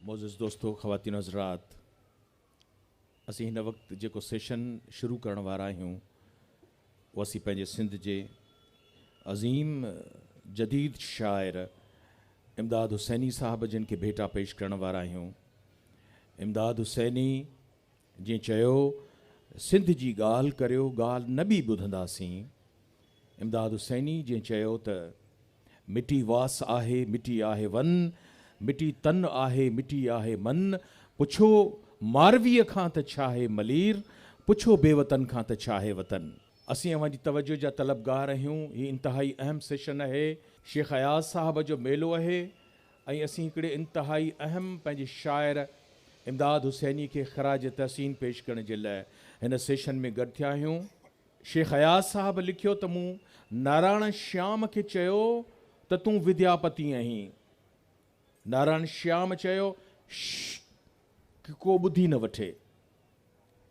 معزز دوستو خواتين و حضرات اسين هن وقت جيڪو سيشن شروع ڪرڻ وارا آهيون اهو اسين پنهنجي سنڌ جي عظيم جديد شاعر امداد حسيني صاحب جن کي ڀيٽا پيش ڪرڻ وارا آهيون امداد حسيني جنهن چيو سنڌ جي ڳالهه ڪريو ڳالهه نه ٻي ٻڌنداسين امداد حسيني جئين چيو ته مٽي واس آهي مٽي آهي ون، مٽي تن آهي مٽي آهي من، پڇو مارويء کان ته ڇاهي ملير، پڇو بي وطن کان ته ڇاهي وطن. اسين اوهان جي توجه جا طلبگار اهيون هي انتهائي اهم سيشن اهي شيخ اياز صاحب جو ميلو اهي ۽ اسين هڪڙي انتهائي اهم پنهنجي شاعر امداد حسيني کي خراج تحسين پيش ڪرڻ جي لاء هن سيشن ۾ گڏ ٿيا اهيون. شيخ اياز صاحب لکيو ته مون نارائڻ شيام کي چيو ته تون ودياپتي آهين. نارائڻ شيام چيو، شش! ڪي ڪو ٻڌي نه وٺي.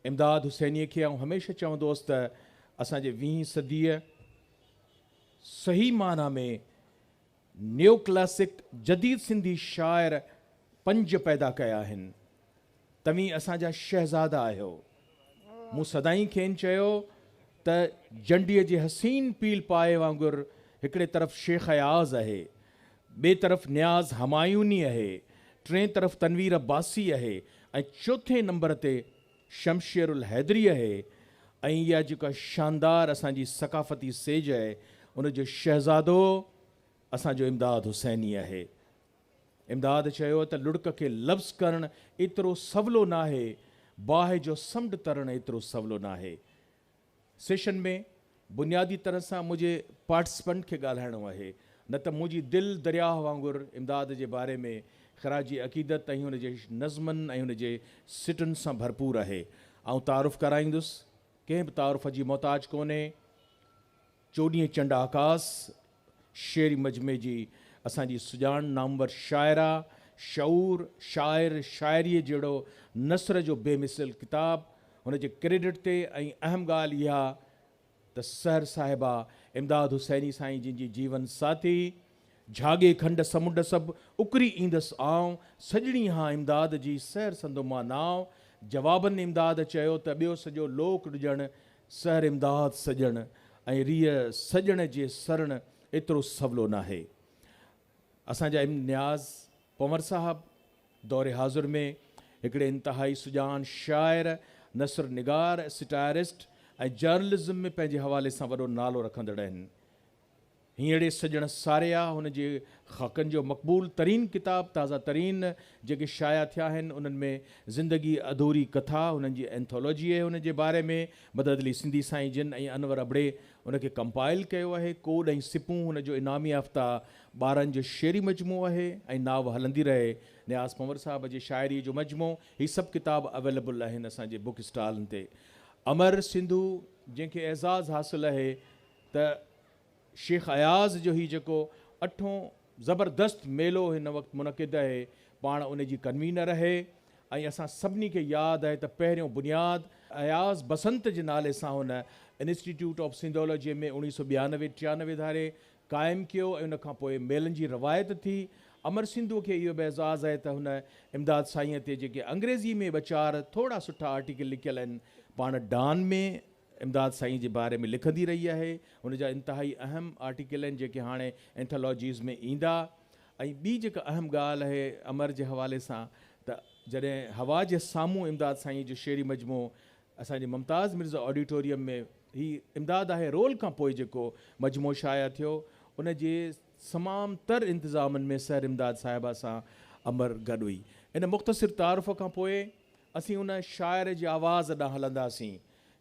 امداد حسينيء کي آئون هميشه چوندو هوس ته اسان جي ويهين صديء صحيح معنيٰ ۾ نيو ڪلاسڪ جديد سنڌي شاعر پنج پيدا ڪيا آهن. توهين اسان جا شهزادا آهيو. مون سدائين کين چيو ته جنڊي جي حسين پيل پائي وانگر هڪڙي طرف شيخ اياز اهي، ٻئي طرف نياز همايوني اهي، ٽئين طرف تنوير عباسي اهي ۽ چوٿين نمبر تي شمشير الحيدري اهي ۽ اها جيڪا شاندار اسان جي ثقافتي سيج اهي ان جو شهزادو اسان جو امداد حسيني اهي. امداد چيو ته لڙڪ کي لفظ ڪرڻ ايترو سولو ناهي باهه جو سمنڊ ترڻ ايترو سولو ناهي. سيشن ۾ بنيادي طرح سان منهنجي پارٽسپنٽ کي ڳالهائڻو آهي نه ته منهنجي دل درياهه وانگر امداد جي باري ۾ خراج عقيدت ۽ هن جي نظمن ۽ هن جي سٽن سان ڀرپور آهي آئون تعارف ڪرائيندس ڪنهن به تعارف جي محتاج ڪونهي چوڏهين چنڊ آڪاس شعري مجمعي جي اسان جي سڄاڻ نامور شاعره، شعور، شاعر، شاعريء جهڙو نثر جو بي مثل ڪتاب، هن جي ڪريڊٽ تي ۽ اهم ڳالهه اها ته سحر صاحبه امداد حسيني سائين جن جي جيون ساٿي، جهاڳي کنڊ سمنڊ سڀ اڪري ايندس آئون، سڄڻي هان امداد جي سحر سندو مان نانء، جوابن امداد چيو ته ٻيو سڄو لوڪ ڏجڻ سحر امداد سڄڻ ۽ ريء سڄڻ جي سرڻ ايترو سولو ناهي. اسان جا ايم نياز پنور صاحب دور حاضر ۾ هڪڙي انتهائي سڄاڻ شاعر، نثر نگار، سٽائرسٽ ۽ جرنلزم ۾ پنهنجي حوالي سان وڏو نالو رکندڙ آهن. هينئڙي سڄڻ ساريا هن جي خاڪن جو مقبول ترين ڪتاب تازه ترين جيڪي شايع ٿيا آهن انهن ۾ زندگي اڌوري ڪٿا هنن جي اينٿالوجيء هن جي باري ۾ مدد علي سنڌي سائين جن ۽ انور ابڙي ان کي ڪمپائل ڪيو آهي ڪوڏ ۽ سپون هن جو انعام يافته ٻارن جو شعري مجموعو آهي ۽ ناوه هلندي رهي نياز پنور صاحب جي شاعريء جو مجموعو هي سڀ ڪتاب اويليبل آهن اسان جي بوڪ اسٽالن تي امر سنڌو جنهن کي اعزاز حاصل آهي ته شيخ اياز جو هي جيڪو اٺون زبردست ميلو هن وقت منعقد اهي پاڻ ان جي ڪنوينر اهي ۽ اسان سڀني کي ياد اهي ته پهريون بنياد اياز بسنت جي نالي سان هن انسٽيٽيوٽ آف سنڌولوجي ۾ اوڻيهه سؤ ٻيانوي ٽيانوي ڌاري قائم ڪيو ۽ ان کان پوء ميلن جي روايت ٿي امر سنڌوء کي اهو به اعزاز اهي ته هن امداد سائينء تي جيڪي انگريزي ۾ ٻه چار ٿورڙا سٺا آرٽيڪل لکيل اهن پاڻ ڊان ۾ امداد سائين جي باري ۾ لکندي رهي آهي. هن جا انتهائي اهم آرٽيڪل آهن جيڪي هاڻي اينٿالاجيز ۾ ايندا. ۽ ٻي جيڪا اهم ڳالهه اهي امر جي حوالي سان ته جڏهن هوا جي سامهون امداد سائين جو شعري مجموعو اسان جي ممتاز مرزا آڊيٽوريم ۾ هي امداد آهي رول کان پوء جيڪو مجموعو شايع ٿيو ان جي تمام تر انتظامن ۾ سحر امداد صاحبه سان امر گڏ هئي. ان مختصر تعارف کان پوء. اسين ان شاعر جي آواز ڏانهن هلنداسين،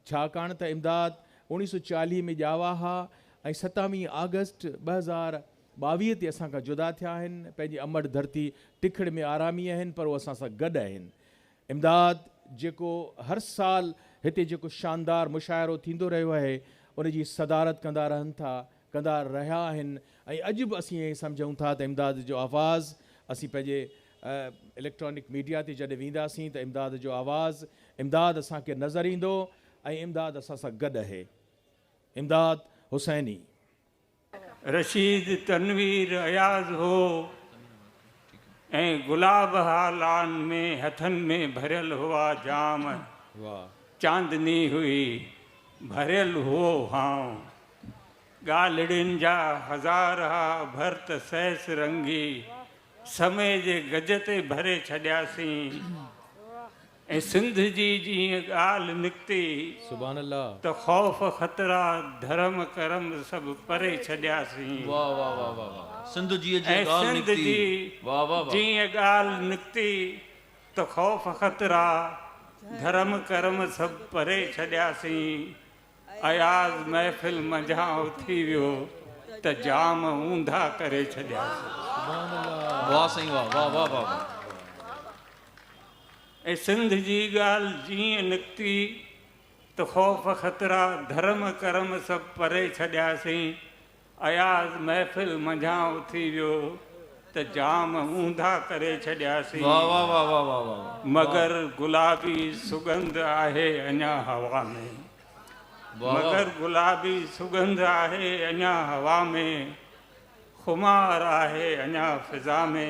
ڇاڪاڻ ته امداد اوڻيهه سؤ چاليهه ۾ ڄاوا ها ۽ ستاويهه آگسٽ ٻه هزار ٻاويهه تي اسان کان جدا ٿيا آهن، پنهنجي امڙ ڌرتي ٽکڙ ۾ آرامي آهن پر هو اسان سان گڏ آهن. امداد جيڪو هر سال هتي جيڪو شاندار مشاعرو ٿيندو رهيو آهي، ان جي صدارت ڪندا رهن ٿا، ڪندا رهيا آهن ۽ اڄ به اسين ائين سمجهون ٿا ته امداد جو آواز اسين پنهنجي اليڪٽرانڪ ميڊيا تي جڏهن وينداسين ته امداد جو آواز، امداد اسان کي نظر ايندو ۽ امداد اسان سان گڏ اهي. امداد حسيني. رشيد تنوير اياز هو ۽ گلاب ها لان ۾ هٿن ۾ ڀريل هئا جام چاندني هئي ڀريل هئو هانء ڳالهڙين جا هزار ها ڀرت سيس رنگي سمي جي گج تي ڀري ڇڏياسين ۽ سنڌ جي جي ائين ڳالهه نڪتي ته خوف خطرا ڌرم ڪرم سڀ پري ڇڏياسين ۽ سنڌ جي جي ائين ڳالهه نڪتي ته خوف خطرا ڌرم ڪرم سڀ پري ڇڏياسين. اياز محفل منجهان اٿي ويو ته جام اونڌا ڪري ڇڏياسين. واھ سائين واھ واھ واھ واھ واھ. ۽ سنڌ جي ڳالھ جيئن نڪتي ته خوف خطرا ڌرم ڪرم سڀ پري ڇڏياسين اياز محفل منجهان اٿي ويو ته جام اونڌا ڪري ڇڏياسين. مگر گلابي سڳنڌ آهي اڃا هوا ۾. مگر گلابي سڳنڌ آهي اڃا هوا ۾. خمار آهي اڃا فضا ۾.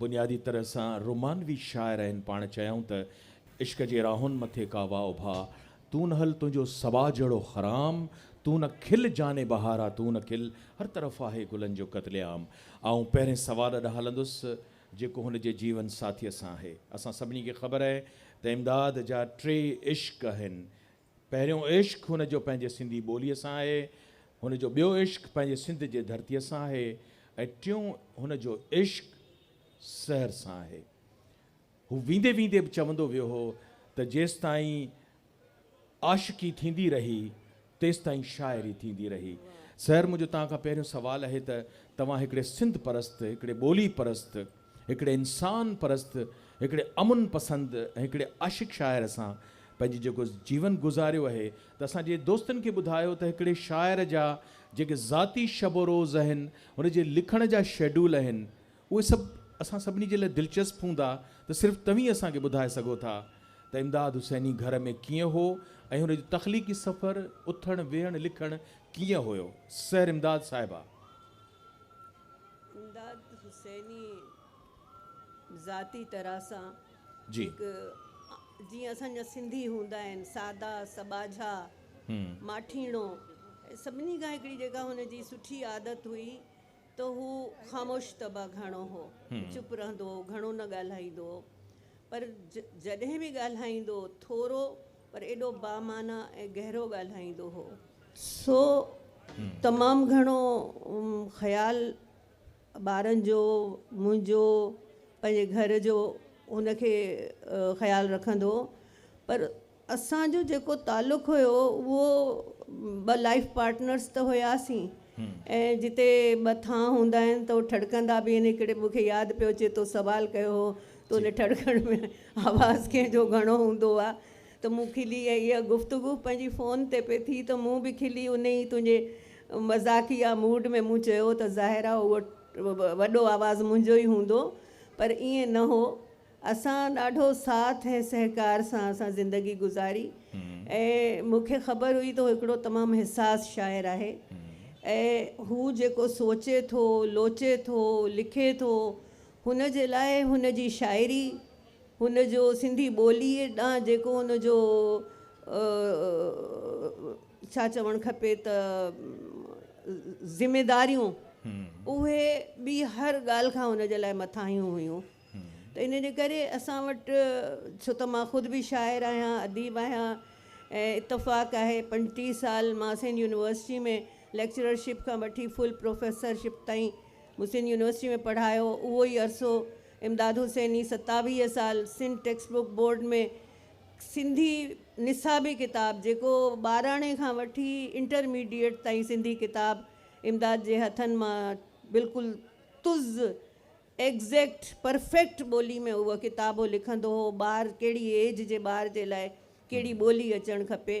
بنيادي طرح سان رومانوي شاعر آهن پاڻ چيائون ته عشق جي راهن مٿي ڪا واء اڀا تون نه هل تنهنجو سوا جهڙو خرام تون نه کل جاني بهارا تون نه کل هر طرف آهي گلن جو قتل عام آئون پهرين سوال ڏانهن هلندس جيڪو هن جي جيون ساٿيء سان آهي اسان سڀني کي خبر آهي ته امداد جا ٽي عشق آهن پهريون عشق هن جو پنهنجي سنڌي ٻوليء سان آهي، هن جو ٻيو عشق پنهنجي سنڌ جي ڌرتيء سان آهي ۽ ٽيون هن جو عشق سحر سان آهي. هو ويندي ويندي به چوندو ويو هو ته جيستائين عاشقي ٿيندي رهي، تيستائين شاعري ٿيندي رهي. سحر منهنجو توهان کان پهريون سوال اهي ته توهان هڪڙي سنڌ پرست، هڪڙي ٻولي پرست، هڪڙي انسان پرست، هڪڙي امن پسند ۽ هڪڙي عاشق شاعر سان پنهنجي جيڪو جيون گذاريو اهي ته اسان جي دوستن کي ٻڌايو ته هڪڙي شاعر جا جيڪي ذاتي شب و روز اهن، هن جي لکڻ جا شيڊول اهن اهي سڀ اسان سڀني جي لاء دلچسپ هوندا ته صرف توهين اسان کي ٻڌائي سگهو ٿا ته امداد حسيني گهر ۾ ڪيئن هو ۽ هن جو تخليقي سفر، اٿڻ ويهڻ لکڻ ڪيئن هيو؟ سحر امداد صاحبه! امداد حسيني ذاتي طرح سان جي هڪ جيئن اسان جا سنڌي هوندا آهن سادا سٻاجها هم ماٺيڻو ۽ سڀني کان هڪڙي جيڪا هن جي سٺي عادت هئي ته هو خاموش طبع گهڻو هو هم چپ رهندو هو گهڻو نه ڳالهائيندو هو پر جڏهن به ڳالهائيندو هو ٿورو پر ايڏو بامعنيٰ ۽ گهرو ڳالهائيندو هو سو تمام گهڻو خيال ٻارن جو منهنجو پنهنجي گهر جو ان کي خيال رکندو هو پر اسان جو جيڪو تعلق هيو اهو ٻه لائف پارٽنرس ته هياسين ۽ جتي ٻه ٿانء هوندا آهن ته هو ٺڙڪندا به آهن هڪڙي مون کي ياد پيو اچي تو سوال ڪيو هو ته ان ٺڙڪڻ ۾ آواز ڪنهن جو گهڻو هوندو آهي ته مون کلي ۽ اها گفتگو پنهنجي فون تي پئي ٿي ته مون به کلي انهي ئي تنهنجي مذاقيه موڊ ۾ مون چيو ته ظاهر آهي اهو وڏو آواز منهنجو ئي هوندو پر ائين نه هو اسان ڏاڍو ساٿ ۽ سهڪار سان اسان زندگي گذاري ۽ مون کي خبر هئي ته هو هڪڙو تمام حساس شاعر آهي ۽ هو جيڪو سوچي ٿو لوچي ٿو لکي ٿو هن جي لاء هن جي شاعري هن جو سنڌي ٻوليء ڏانهن جيڪو هن جو ڇا چوڻ کپي ته ذميداريون اهي ٻي هر ڳالهه کان هن جي لاء مٿاهيون هيون ته ان جي ڪري اسان وٽ ڇو ته مان خود به شاعر آهيان اديب آهيان ۽ اتفاق آهي پنجٽيهه سال مان سنڌ يونيورسٽي ۾ ليڪچررشپ کان وٺي فل پروفيسرشپ تائين مون سنڌ يونيورسٽي ۾ پڙهايو اهو ئي عرصو امداد حسيني ستاويهه سال Sindh text book board ۾ Sindhi نصابي ڪتاب جيڪو ٻاراڻي کان وٺي انٽرميڊيئيٽ تائين سنڌي ڪتاب امداد جي هٿن مان بلڪل تز ايگزيڪٽ پرفيڪٽ ٻولي ۾ اهو ڪتاب هو لکندو هو ٻار ڪهڙي ايج جي ٻار جي لاء ڪهڙي ٻولي اچڻ کپي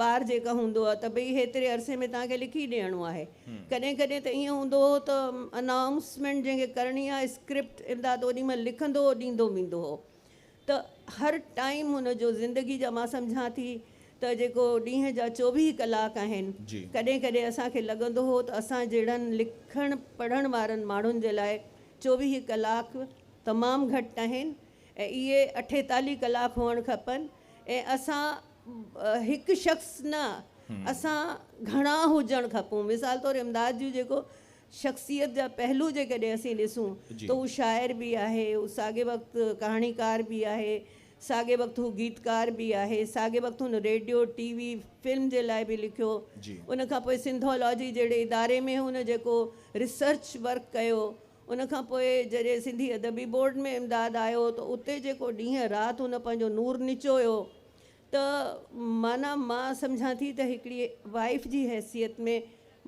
بار جيڪا هوندو ته ڀئي هيتري عرصي ۾ توهان کي لکي ڏيڻو آهي ڪڏهن ڪڏهن ته ائين هوندو هو ته انائونسمينٽ جنهن کي ڪرڻي آهي اسڪرپٽ امداد اوڏي مهل لکندو هو ڏيندو ويندو هو ته هر ٽائيم هن جو زندگي جا مان سمجهان ٿي ته جيڪو ڏينهن جا چوويهه ڪلاڪ آهن ڪڏهن ڪڏهن اسان کي لڳندو هو ته اسان جهڙن لکڻ پڙهڻ وارن ماڻهن جي لاء چوويهه ڪلاڪ تمام گهٽ آهن ۽ اهي اٺيتاليهه ڪلاڪ هئڻ کپن ۽ اسان هڪ شخص نه اسان گهڻا هجڻ کپون مثال طور امداد جون جيڪو شخصيت جا پهلو جيڪڏهن اسين ڏسون ته هو شاعر به آهي هو ساڳي وقت ڪهاڻيڪار به آهي ساڳي وقت هو گيتڪار به آهي ساڳي وقت هن ريڊيو ٽي وي فلم جي لاء به لکيو ان کان پوء سنڌولاجي جهڙي اداري ۾ هن جيڪو ريسرچ ورڪ ڪيو ان کان پوء جڏهن سنڌي ادبي بورڊ ۾ امداد آيو ته اتي جيڪو ڏينهن رات هن پنهنجو نور نچويو ته معنيٰ مان سمجهان ٿي ته هڪڙي وائيف جي حيثيت ۾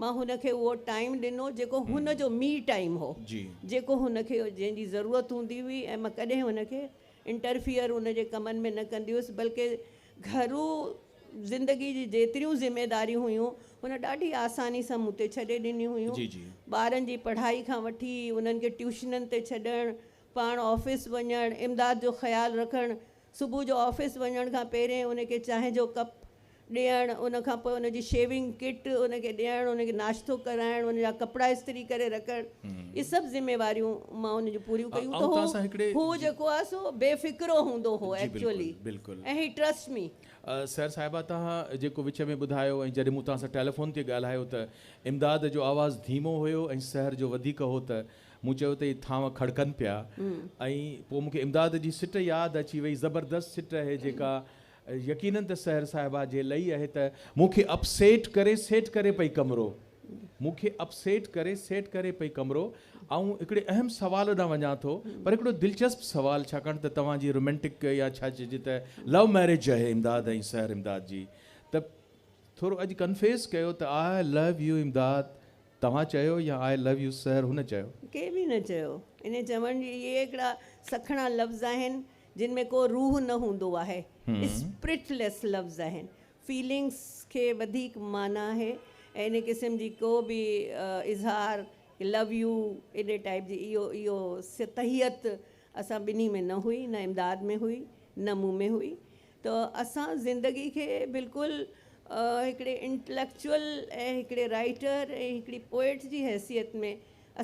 مان هن کي اهو ٽائيم ڏنو جيڪو هن جو مي ٽائيم هو جيڪو هن کي جنهن جي ضرورت هوندي هئي ۽ مان ڪڏهن هن کي انٽرفيئر هن جي ڪمن ۾ نه ڪندي هيس بلڪه گهرو زندگي جي جيتريون ذميداريون هيون هن ڏاڍي آساني سان مون تي ڇڏي ڏنيون هيون. ٻارن جي پڙهائي کان وٺي انهن کي ٽيوشنن تي ڇڏڻ، پاڻ آفيس وڃڻ، امداد جو خيال رکڻ، صبح جو آفيس وڃڻ کان پهرين ان کي چانهه جو ڪپ ڏيڻ، ان کان پوء ان جي شيونگ ڪٽ ان کي ڏيڻ، ان کي ناشتو ڪرائڻ، ان جا ڪپڙا استري ڪري رکڻ، اهي سڀ ذميواريون مان ان جون پوريون ڪيون ته هو جيڪو آهي سو بي فڪرو هوندو هو ايڪچوئلي ۽ هي ٽرسٽ مي. سحر صاحبه توهان جيڪو وچ ۾ ٻڌايو ۽ جڏهن مون توهان سان ٽيليفون تي ڳالهايو ته امداد جو آواز ڌيمو هيو ۽ سحر جو وڌيڪ هو ته مون چيو ته هي ٿانو کڙڪن پيا ۽ پوء مون کي امداد جي سٽ ياد اچي وئي زبردست سٽ اهي جيڪا يقينن ته سحر صاحبه جي لئي اهي ته. مون کي اپ سيٽ ڪري سيٽ ڪري پئي ڪمرو مون کي اپ سيٽ ڪري سيٽ ڪري پئي ڪمرو آئون هڪڙي اهم سوال ڏانهن وڃان ٿو پر هڪڙو دلچسپ سوال ڇاڪاڻ ته توهان جي رومينٽڪ يا ڇا چئجي ته لو ميرج اهي امداد ۽ سحر امداد جي ته ٿورو اڄ ڪنفيس ڪيو ته آء لو يو امداد توهان چيو يا آء لو يو سحر هن چيو. ڪنهن به نه چيو انهي چوڻ جي اهي هڪڙا سکڻا لفظ آهن جن ۾ ڪو روح نه هوندو آهي، اسپرٽ ليس لفظ آهن، فيلنگس کي وڌيڪ معنيٰ آهي ۽ ان قسم جي ڪو به اظهار ڪي لو يو ايڏي ٽائيپ جي اهو اهو سطحيت اسان ٻنهي ۾ نه هئي نه امداد ۾ هئي نه مون ۾ هئي ته اسان زندگي کي بلڪل هڪڙي انٽليڪچوئل ۽ هڪڙي رائيٽر ۽ هڪڙي پوئٽ جي حيثيت ۾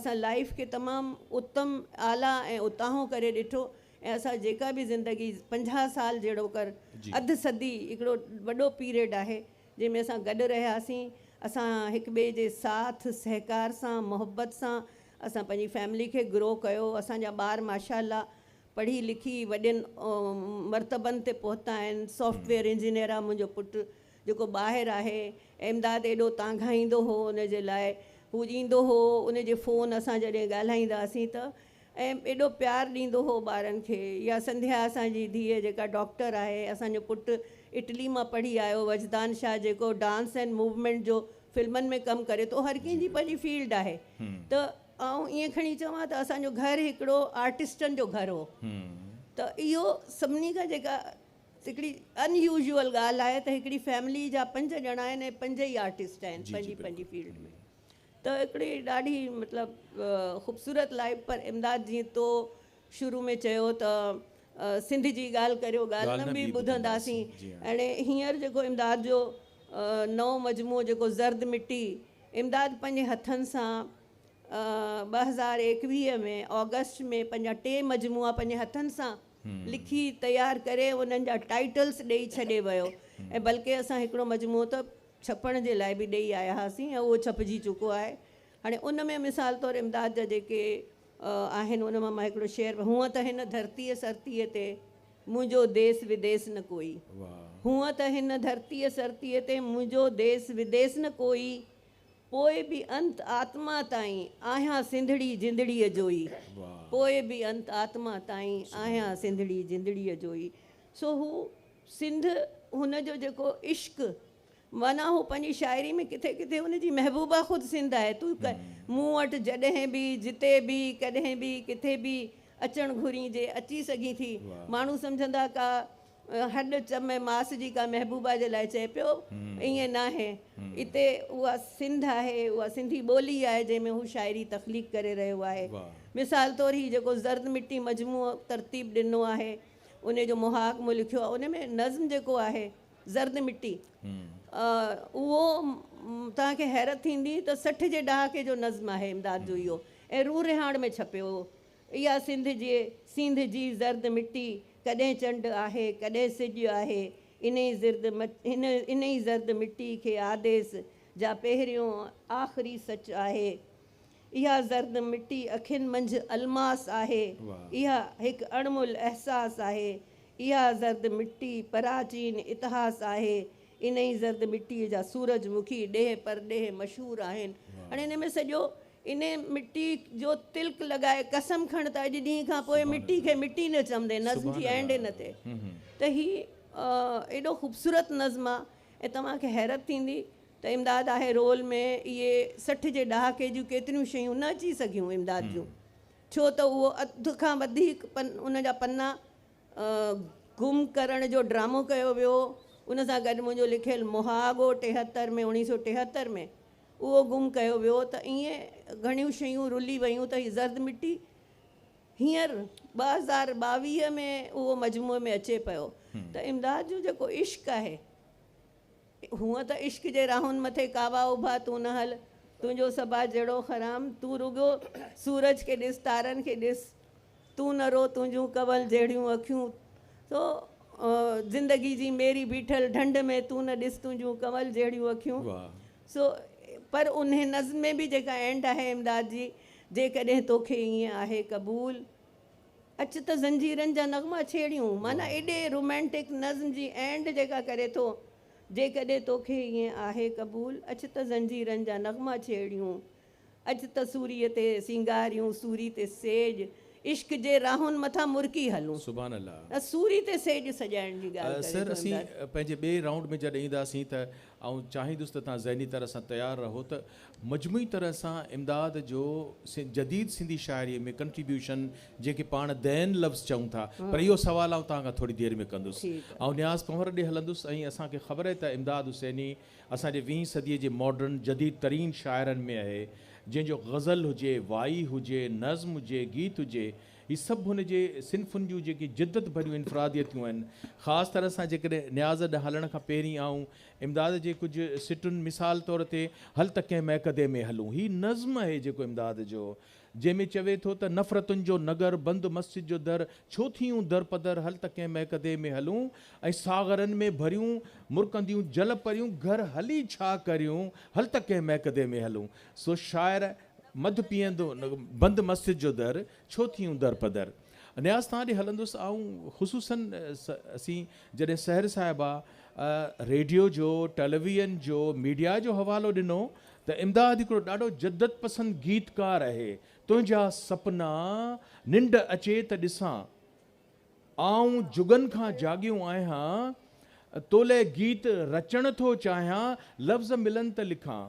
اسان لائيف کي تمام اتم اعليٰ ۽ اتاهون ڪري ڏٺو ۽ اسان جيڪا به زندگي پنجاهه سال جهڙو ڪر اڌ صدي هڪڙو وڏو پيريڊ آهي جنهن ۾ اسان گڏ رهياسين اسان هڪ ٻئي جي ساٿ سهڪار سان محبت سان اسان پنهنجي فيملي کي گرو ڪيو اسان جا ٻار ماشاءالله پڙهي لکي وڏين مرتبن تي پهتا آهن سافٽويئر انجنيئر آهي منهنجو پٽ جيڪو ٻاهر آهي امداد ايڏو تانگهائيندو هو ان جي لاء هو ايندو هو ان جي فون اسان جڏهن ڳالهائيندا هئاسين ته ۽ ايڏو پيار ڏيندو هو ٻارن کي يا سنڌيا اسان جي ڌيء جيڪا ڊاڪٽر آهي اسان جو پٽ اٽلي مان پڙهي آيو وجدان شاهه جيڪو ڊانس ۽ موومينٽ جو فلمن ۾ ڪم ڪري ٿو هر ڪنهن جي پنهنجي فيلڊ آهي ته آئون ائين کڻي چوان ته اسان جو گهر هڪڙو آرٽسٽن جو گهر هو ته اهو سڀني کان جيڪا هڪڙي ان يوزيول ڳالهه آهي ته هڪڙي فيملي جا پنج ڄڻا آهن ۽ پنج ئي آرٽسٽ آهن پنهنجي پنهنجي فيلڊ ۾ ته هڪڙي ڏاڍي مطلب خوبصورت لائيف پر امداد جيئن تو شروع ۾ چيو ته سنڌ جي ڳالهه ڪريو ڳالهه نه ٻي ٻڌنداسين اهڙي هينئر جيڪو امداد جو نئون مجموعو جيڪو زرد مٽي امداد پنهنجي هٿن سان ٻه هزار ايڪويهه ۾ آگسٽ ۾ پنهنجا ٽي مجموعا پنهنجي هٿن سان لکي تيار ڪري انهن جا ٽائيٽلس ڏئي ڇڏي ويو ۽ بلڪه اسان هڪڙو مجموعو ته ڇپڻ جي لاء به ڏئي آيا هئاسين ۽ اهو ڇپجي چڪو آهي. هاڻي ان ۾ مثال طور امداد جا جيڪي آهن ان مان مان هڪڙو شعر هونء ته هن ڌرتيء سرتيء تي منهنجو ديس وديس نه ڪوئي هونء ته هن ڌرتيء سرتيء تي منهنجو ديس وديس نه ڪوئي پوء به انت آتما تائين آهيان سنڌڙي جندڙيء جو ئي پوء به انت آتما تائين آهيان سنڌڙي جندڙيء جو ئي سو هو سنڌ هن جو جيڪو عشق معنيٰ هو پنهنجي شاعري ۾ ڪٿي ڪٿي هن جي محبوبا خود سنڌ آهي تون مون وٽ جڏهن به جتي به ڪڏهن به ڪٿي به اچڻ گهرين جي اچي سگهين ٿي ماڻهو سمجهندا ڪا هڏ چم ۽ ماس جي ڪا محبوبا جي لاء چئي پيو ائين ناهي اتي اها سنڌ آهي اها سنڌي ٻولي آهي جنهن ۾ هو شاعري تخليق ڪري رهيو آهي مثال طور هي جيڪو زرد مٽي مجموعو ترتيب ڏنو آهي انهيء جو محاڪ مون لکيو آهي. ان ۾ نظم جيڪو آهي زرد مٽي اهو توهان کي حيرت ٿيندي ته سٺ جي ڏهاڪي جو نظم آهي امداد جو اهو ۽ روح رهاڻ ۾ ڇپيو هو اها سنڌ جي سينڌ جي زرد مٽي ڪڏهن چنڊ آهي ڪڏهن سڄ آهي انهي زرد انهي زرد مٽي کي آديس جا پهريون آخري سچ آهي اها زرد مٽي اکين منجهه الماس آهي. اها هڪ اڻمول احساس آهي. اها زرد مٽي پراچين اتهاس آهي. انهي زرد مٽيء جا سورج مکي ڏيهه پرڏيهه مشهور آهن. هاڻي انهي ۾ سڄو انهي مٽي جو تلڪ لڳائي قسم کڻ ته اڄ ڏينهن کان پوء مٽي کي مٽي نه چوندين. نظم جي اينڊ ان تي ته هي ايڏو خوبصورت نظم آ ۽ توهان کي حيرت ٿيندي ته امداد آهي رول ۾ اهي سٺ جي ڏهاڪي جون ڪيتريون شيون نه اچي سگهيون امداد جون ڇو ته اهو اڌ کان وڌيڪ ان جا پنا گم ڪرڻ جو ڊرامو ڪيو ويو ان سان گڏ منهنجو لکيل مهاڳو ٽيهتر ۾ اوڻيهه سو ٽيهتر ۾ اهو گم ڪيو ويو ته ائين گهڻيون شيون رلي ويون ته هي زرد مٽي هينئر ٻه هزار ٻاويهه ۾ اهو مجموعي ۾ اچي پيو ته امداد جو جيڪو عشق آهي هونء ته عشق جي راهن مٿي ڪاوا اڀا تون نه هل تنهنجو صبا جهڙو خرام تون رڳو سورج کي ڏس تارن کي ڏس تون نه رو تنهنجون ڪنول جهڙيون اکيون تو زندگي جي ميري بيٺل ڍنڍ ۾ تون نه ڏس تنهنجون ڪنول جهڙيون اکيون سو پر انهي نظم ۾ به جيڪا اينڊ آهي امداد جي جيڪڏهن توکي ائين آهي قبول اچ ته زنجيرن جا نغما ڇيڙيون معنيٰ ايڏي رومانٽڪ نظم جي اينڊ جيڪا ڪري ٿو جيڪڏهن توکي ائين آهي قبول اچ ته زنجيرن جا نغما ڇيڙيون اچ ته سوري تي سينگاريون سوري تي سيڄ عشق جي راهن مٿان مرڪي هلون سبحان الله سوري تي سيڄ سڄائڻ جي ڳالهه ڪري ٿو امداد. سر اسين پنهنجي ٻئي رائونڊ ۾ جڏهن اينداسين ته آئون چاهيندس ته توهان ذهني طرح سان تيار رهو ته مجموعي طرح سان امداد جو جديد سنڌي شاعريء ۾ ڪنٽريبيوشن جنهن کي پاڻ دين لفظ چئون ٿا پر اهو سوال آئون توهان کان ٿوري دير ۾ ڪندس. آئون نياز ڪنور ڏي هلندس ۽ اسان کي خبر اهي ته امداد حسيني اسان جي ويهين صديء جي ماڊرن جديد ترين شاعرن ۾ اهي جنهن جو غزل هجي، وائي هجي، نظم هجي، گيت هجي هي سڀ هن جي صنفن جون جيڪي جدت ڀريون انفراديتيون آهن. خاص طرح سان جيڪڏهن نياز ڏانهن هلڻ کان پهرين آئون امداد جي ڪجهه سٽن مثال طور تي هل ته ڪنهن مئڪدي ۾ هلون هي نظم اهي جيڪو امداد جو جنهن ۾ چوي ٿو ته نفرتن جو نگر بند مسجد جو در ڇو ٿيون در پدر هل ته ڪنهن مئڪدي ۾ هلون ۽ ساغرن ۾ ڀريون مرڪنديون جل پريون گهر هلي ڇا ڪريون هل ته ڪنهن مئڪدي ۾ هلون سو شاعر مڌ پيئندو بند مسجد جو در، ڇو ٿيون در پدر. نياز توهان ڏي هلندس آئون خصوصاً اسين جڏهن سحر صاحبه ريڊيو جو، ٽيليويئن جو، ميڊيا جو حوالو ڏنو ته امداد هڪڙو ڏاڍو جدت پسند گيتڪار اهي تنهنجا سپنا ننڊ اچي ته ڏسان آئون جڳن کان جاڳيو آهيان تو لئه گيت رچڻ ٿو چاهيان لفظ ملن ته لکان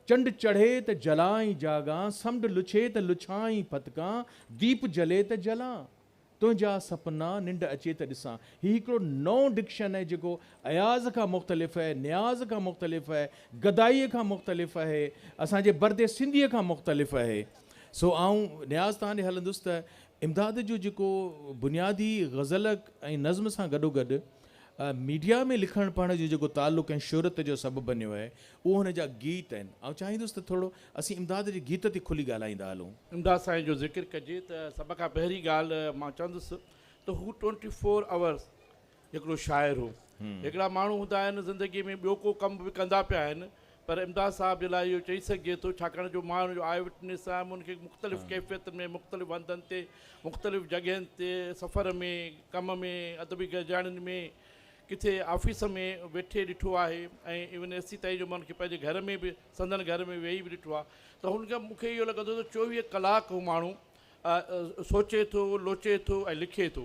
چنڊ چڙهي ته جلان ۽ جاڳان، سمنڊ لڇي ته لڇان ۽ ڦٿڪان، ديپ جلي ته جلان، تنهنجا سپنا ننڊ اچي ته ڏسان. هي هڪڙو نئون ڊڪشن آهي جيڪو اياز کان مختلف اهي، نياز کان مختلف اهي، گدائيء کان مختلف اهي، اسان جي برد سنڌيء کان مختلف اهي. سو آئون نياز تان ڏي هلندس ته امداد جو جيڪو بنيادي غزل ۽ نظم سان گڏوگڏ ميڊيا ۾ لکڻ پڙهڻ جو جيڪو تعلق ۽ شهرت جو سبب بنيو آهي، اهي هن جا گيت آهن. آئون چاهيندس ته ٿورڙو اسين امداد جي گيت تي کلي ڳالهائيندا هلون. امداد سائين جو ذڪر ڪجي ته سڀ کان پهرين ڳالهه مان چوندس ته هو ٽوئنٽي فور آورس هڪڙو شاعر هو. هڪڙا ماڻهو هوندا آهن زندگي ۾ ٻيو ڪو ڪم به ڪندا پيا آهن پر امداد صاحب جي لاء اهو چئي سگهجي ٿو ڇاڪاڻ جو مان هن جو آئي وٽنيس آهيان مون کي مختلف ڪيفيتن ۾ مختلف هنڌن تي مختلف جڳهين تي سفر ۾ ڪم ۾ ادبي گڏجاڻين ۾ ڪٿي آفيس ۾ ويٺي ڏٺو آهي ۽ ايون ايس سي تائين جو مان ان کي پنهنجي گهر ۾ به سندن گهر ۾ ويهي به ڏٺو آهي ته هن کي مون کي اهو لڳندو ته چوويهه ڪلاڪ هو ماڻهو سوچي ٿو لوچي ٿو ۽ لکي ٿو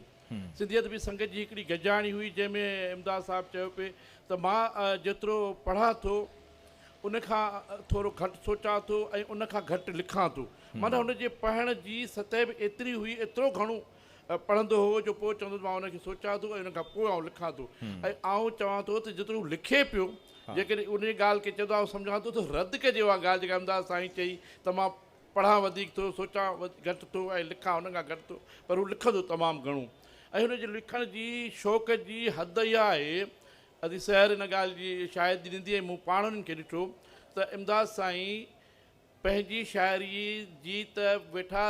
سنڌي ادبي سنگت جي هڪڙي گڏجاڻي هئي جنهن ۾ امداد صاحب چيو پئي ته مان جيترو پڙهان ٿو ان کان ٿورو گهٽ سوچان ٿو ۽ ان کان گهٽ لکان ٿو معنيٰ هن جي پڙهڻ جي سطح به ايتري هئي ايترو گهڻو پڙهندو هو جو پوء چوندو ته مان ان کي سوچان ٿو ۽ ان کان پوء آئون لکان ٿو ۽ آئون چوان ٿو ته جيترو هو لکي پيو جيڪڏهن انهيء ڳالهه کي چوندو آئون سمجهان ٿو ته رد ڪجي اها ڳالهه جيڪا امداد سائين چئي ته مان پڙهان وڌيڪ ٿو سوچان گهٽ ٿو ۽ لکان ان کان گهٽ ٿو پر هو لکندو تمام گهڻو ۽ هن جي لکڻ جي شوق جي حد اها آهي ادي سحر ان ڳالهه جي شاهدي ڏيندي ۽ مون پاڻ انهن کي ڏٺو ته امداد سائين پنهنجي شاعريء جي ته ويٺا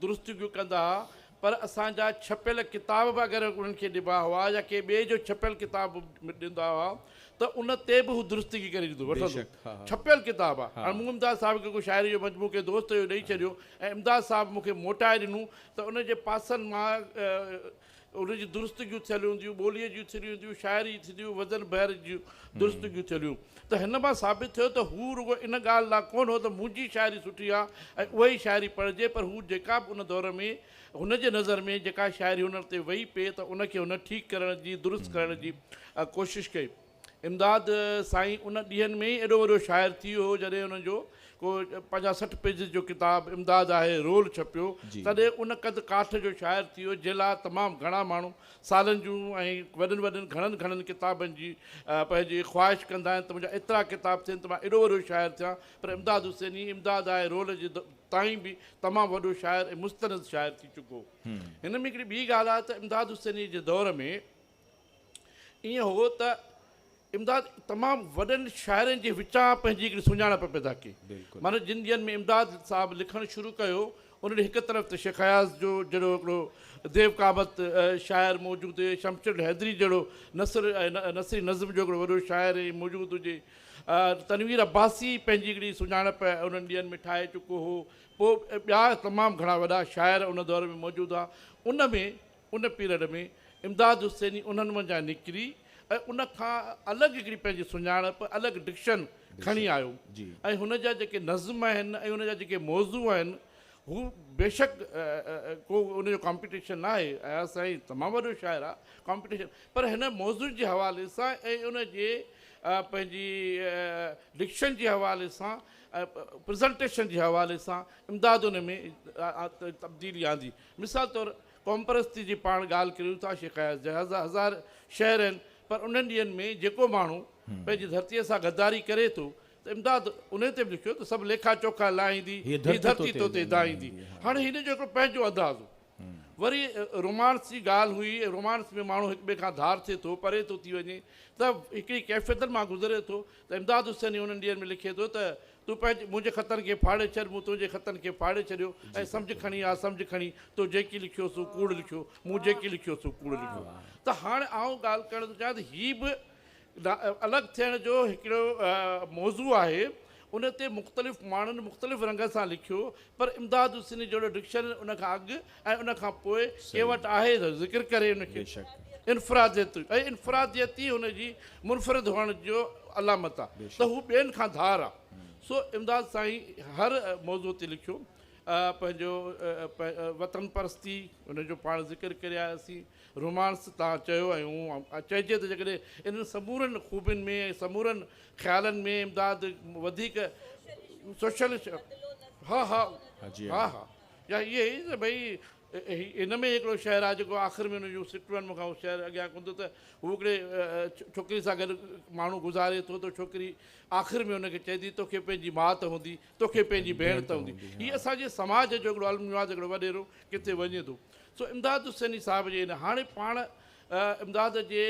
درستيون به ڪندا ها پر اسان جا ڇپيل ڪتاب به اگر انهن کي ڏبا هئا يا ڪنهن ٻئي جو ڇپيل ڪتاب به ڏيندا هئا ته ان تي به هو درستگي ڪري ڏيندو وٺندو ڇپيل ڪتاب آ. هاڻ مون امداد صاحب کي ڪو شاعريء جو مجموعو ڪنهن دوست جو ڏئي ڇڏيو ۽ امداد صاحب مون کي موٽائي ڏنو ته ان جي پاسن مان ان جي درستگيون ٿيل هونديون، ٻوليء جون ٿريون هونديون، شاعري ٿينديون، وزن بحر جون درستگيون ٿيل هيون ته هن مان ثابت ٿيو ته هو رڳو ان ڳالهه لا ڪونه هو ته منهنجي شاعري سٺي آ ۽ اهائي شاعري پڙهجي پر هو جيڪا به ان دور ۾ هن جي نظر ۾ جيڪا شاعري هنر تي ويئي پئي ته ان کي هن ٺيڪ ڪرڻ جي درست ڪرڻ جي ڪوشش ڪئي. امداد سائين ان ڏينهن ۾ ئي ايڏو وڏو شاعر ٿي ويو هو جڏهن ان جو ڪو پنجاهه سٺ پيجز جو ڪتاب امداد آهي رول ڇپيو تڏهن ان قد ڪاٺ جو شاعر ٿي ويو جنهن لاء تمام گهڻا ماڻهو سالن جون ۽ وڏن وڏن گهڻن گهڻن ڪتابن جي پنهنجي خواهش ڪندا آهن ته منهنجا ايترا ڪتاب ٿين ته مان ايڏو وڏو شاعر ٿيان پر امداد حسيني امداد آهي رول جي تائين به تمام وڏو شاعر ۽ مستند شاعر ٿي چڪو هن ۾ هڪڙي ٻي ڳالهه آهي ته امداد حسيني جي دور ۾ ائين هو ته امداد تمام وڏن شاعرن جي وچان پنهنجي هڪڙي سڃاڻپ پيدا ڪئي. معنيٰ جن ڏينهن ۾ امداد صاحب لکڻ شروع ڪيو، انهن هڪ طرف ته شيخ اياز جو جهڙو هڪڙو ديو قامت شاعر موجود هجي، شمشير الحيدري جهڙو نثر ۽ نثري نظم جو هڪڙو وڏو شاعر ائين موجود هجي، تنوير عباسي پنهنجي هڪڙي سڃاڻپ انهن ڏينهن ۾ ٺاهي چڪو هو، پوء ٻيا تمام گهڻا وڏا شاعر ان دور ۾ موجود هئا، ان ۾. ان پيريڊ ۾ امداد حسيني انهن منجهان نڪري ۽ ان کان الڳ هڪڙي پنهنجي سڃاڻپ، الڳ ڊڪشن کڻي آيو ۽ هن جا جيڪي نظم آهن ۽ ان جا جيڪي موضوع آهن هو بيشڪ ڪو ان جو ڪامپيٽيشن ناهي اياز سائين تمام وڏو شاعر آهي ڪامپيٽيشن پر هن موضوعن جي حوالي سان ۽ ان جي پنهنجي ڊڪشن جي حوالي سان پريزنٽيشن جي حوالي سان امداد ان ۾ تبديلي آندي. مثال طور قومپرستي جي پاڻ ڳالهه ڪريون ٿا شيخ اياز جا هزار شعر آهن پر انهن ڏينهن ۾ جيڪو ماڻهو پنهنجي ڌرتي سان غداري ڪري ٿو ته امداد انهي تي به لکيو ته سڀ ليکا چوکا لاهيندي هيء ڌرتي تو تي دانهيندي هاڻي هن جو هڪڙو پنهنجو انداز هو وري رومانس جي ڳالهه هئي ۽ رومانس ۾ ماڻهو هڪ ٻئي کان ڌار ٿئي ٿو پري ٿو ٿي وڃي ته هڪڙي ڪيفيتن مان گذري ٿو ته امداد حسيني انهن ڏينهن ۾ لکي ٿو ته تون پنهنجي منهنجي خطن کي ڦاڙي ڇڏ، مون تنهنجي خطن کي ڦاڙي ڇڏيو ۽ سمجهه کڻي آء سمجهه کڻي تو جيڪي لکيو سو ڪوڙ لکيو، مون جيڪي لکيو سو ڪوڙ لکيو. ته هاڻي آئون ڳالهه ڪرڻ ٿو چاهيان ته هي به الڳ ٿيڻ جو هڪڙو موضوع آهي، ان تي مختلف ماڻهن مختلف رنگ سان لکيو، پر امداد حسيني جهڙو ڊڪشنرين ان کان اڳ ۽ ان کان پوء ڪنهن وٽ آهي ته ذڪر ڪري ان کي. بيشڪ. انفراديت ۽ انفراديت ئي هن جي منفرد هئڻ جو علامت آ ته هو ٻين کان ڌار آ سو امداد سائين هر موضوع تي لکيو پنهنجو وطن پرستي ان جو پاڻ ذڪر ڪري آياسين رومانس تان چيو ۽ چئجي ته جيڪڏهن انهن سمورن خوبين ۾ ۽ سمورن خيالن ۾ امداد وڌيڪ سوشلسٽ ها ها ها ها يا اهي ئي ته ڀئي هي ان ۾ هڪڙو شعر آهي جيڪو آخر ۾ ان جون سٽون آهن مون کان اهو شعر اڳيان ڪونه ٿو ته هو هڪڙي ڇوڪري سان گڏ ماڻهو گذاري ٿو ته ڇوڪري آخر ۾ ان کي چئي ٿي توکي پنهنجي ماء ته هوندي توکي پنهنجي ڀيڻ ته هوندي هي اسان جي سماج جو هڪڙو المنواز هڪڙو وڏيرو ڪٿي وڃي ٿو سو امداد حسيني صاحب جي ان هاڻي پاڻ امداد جي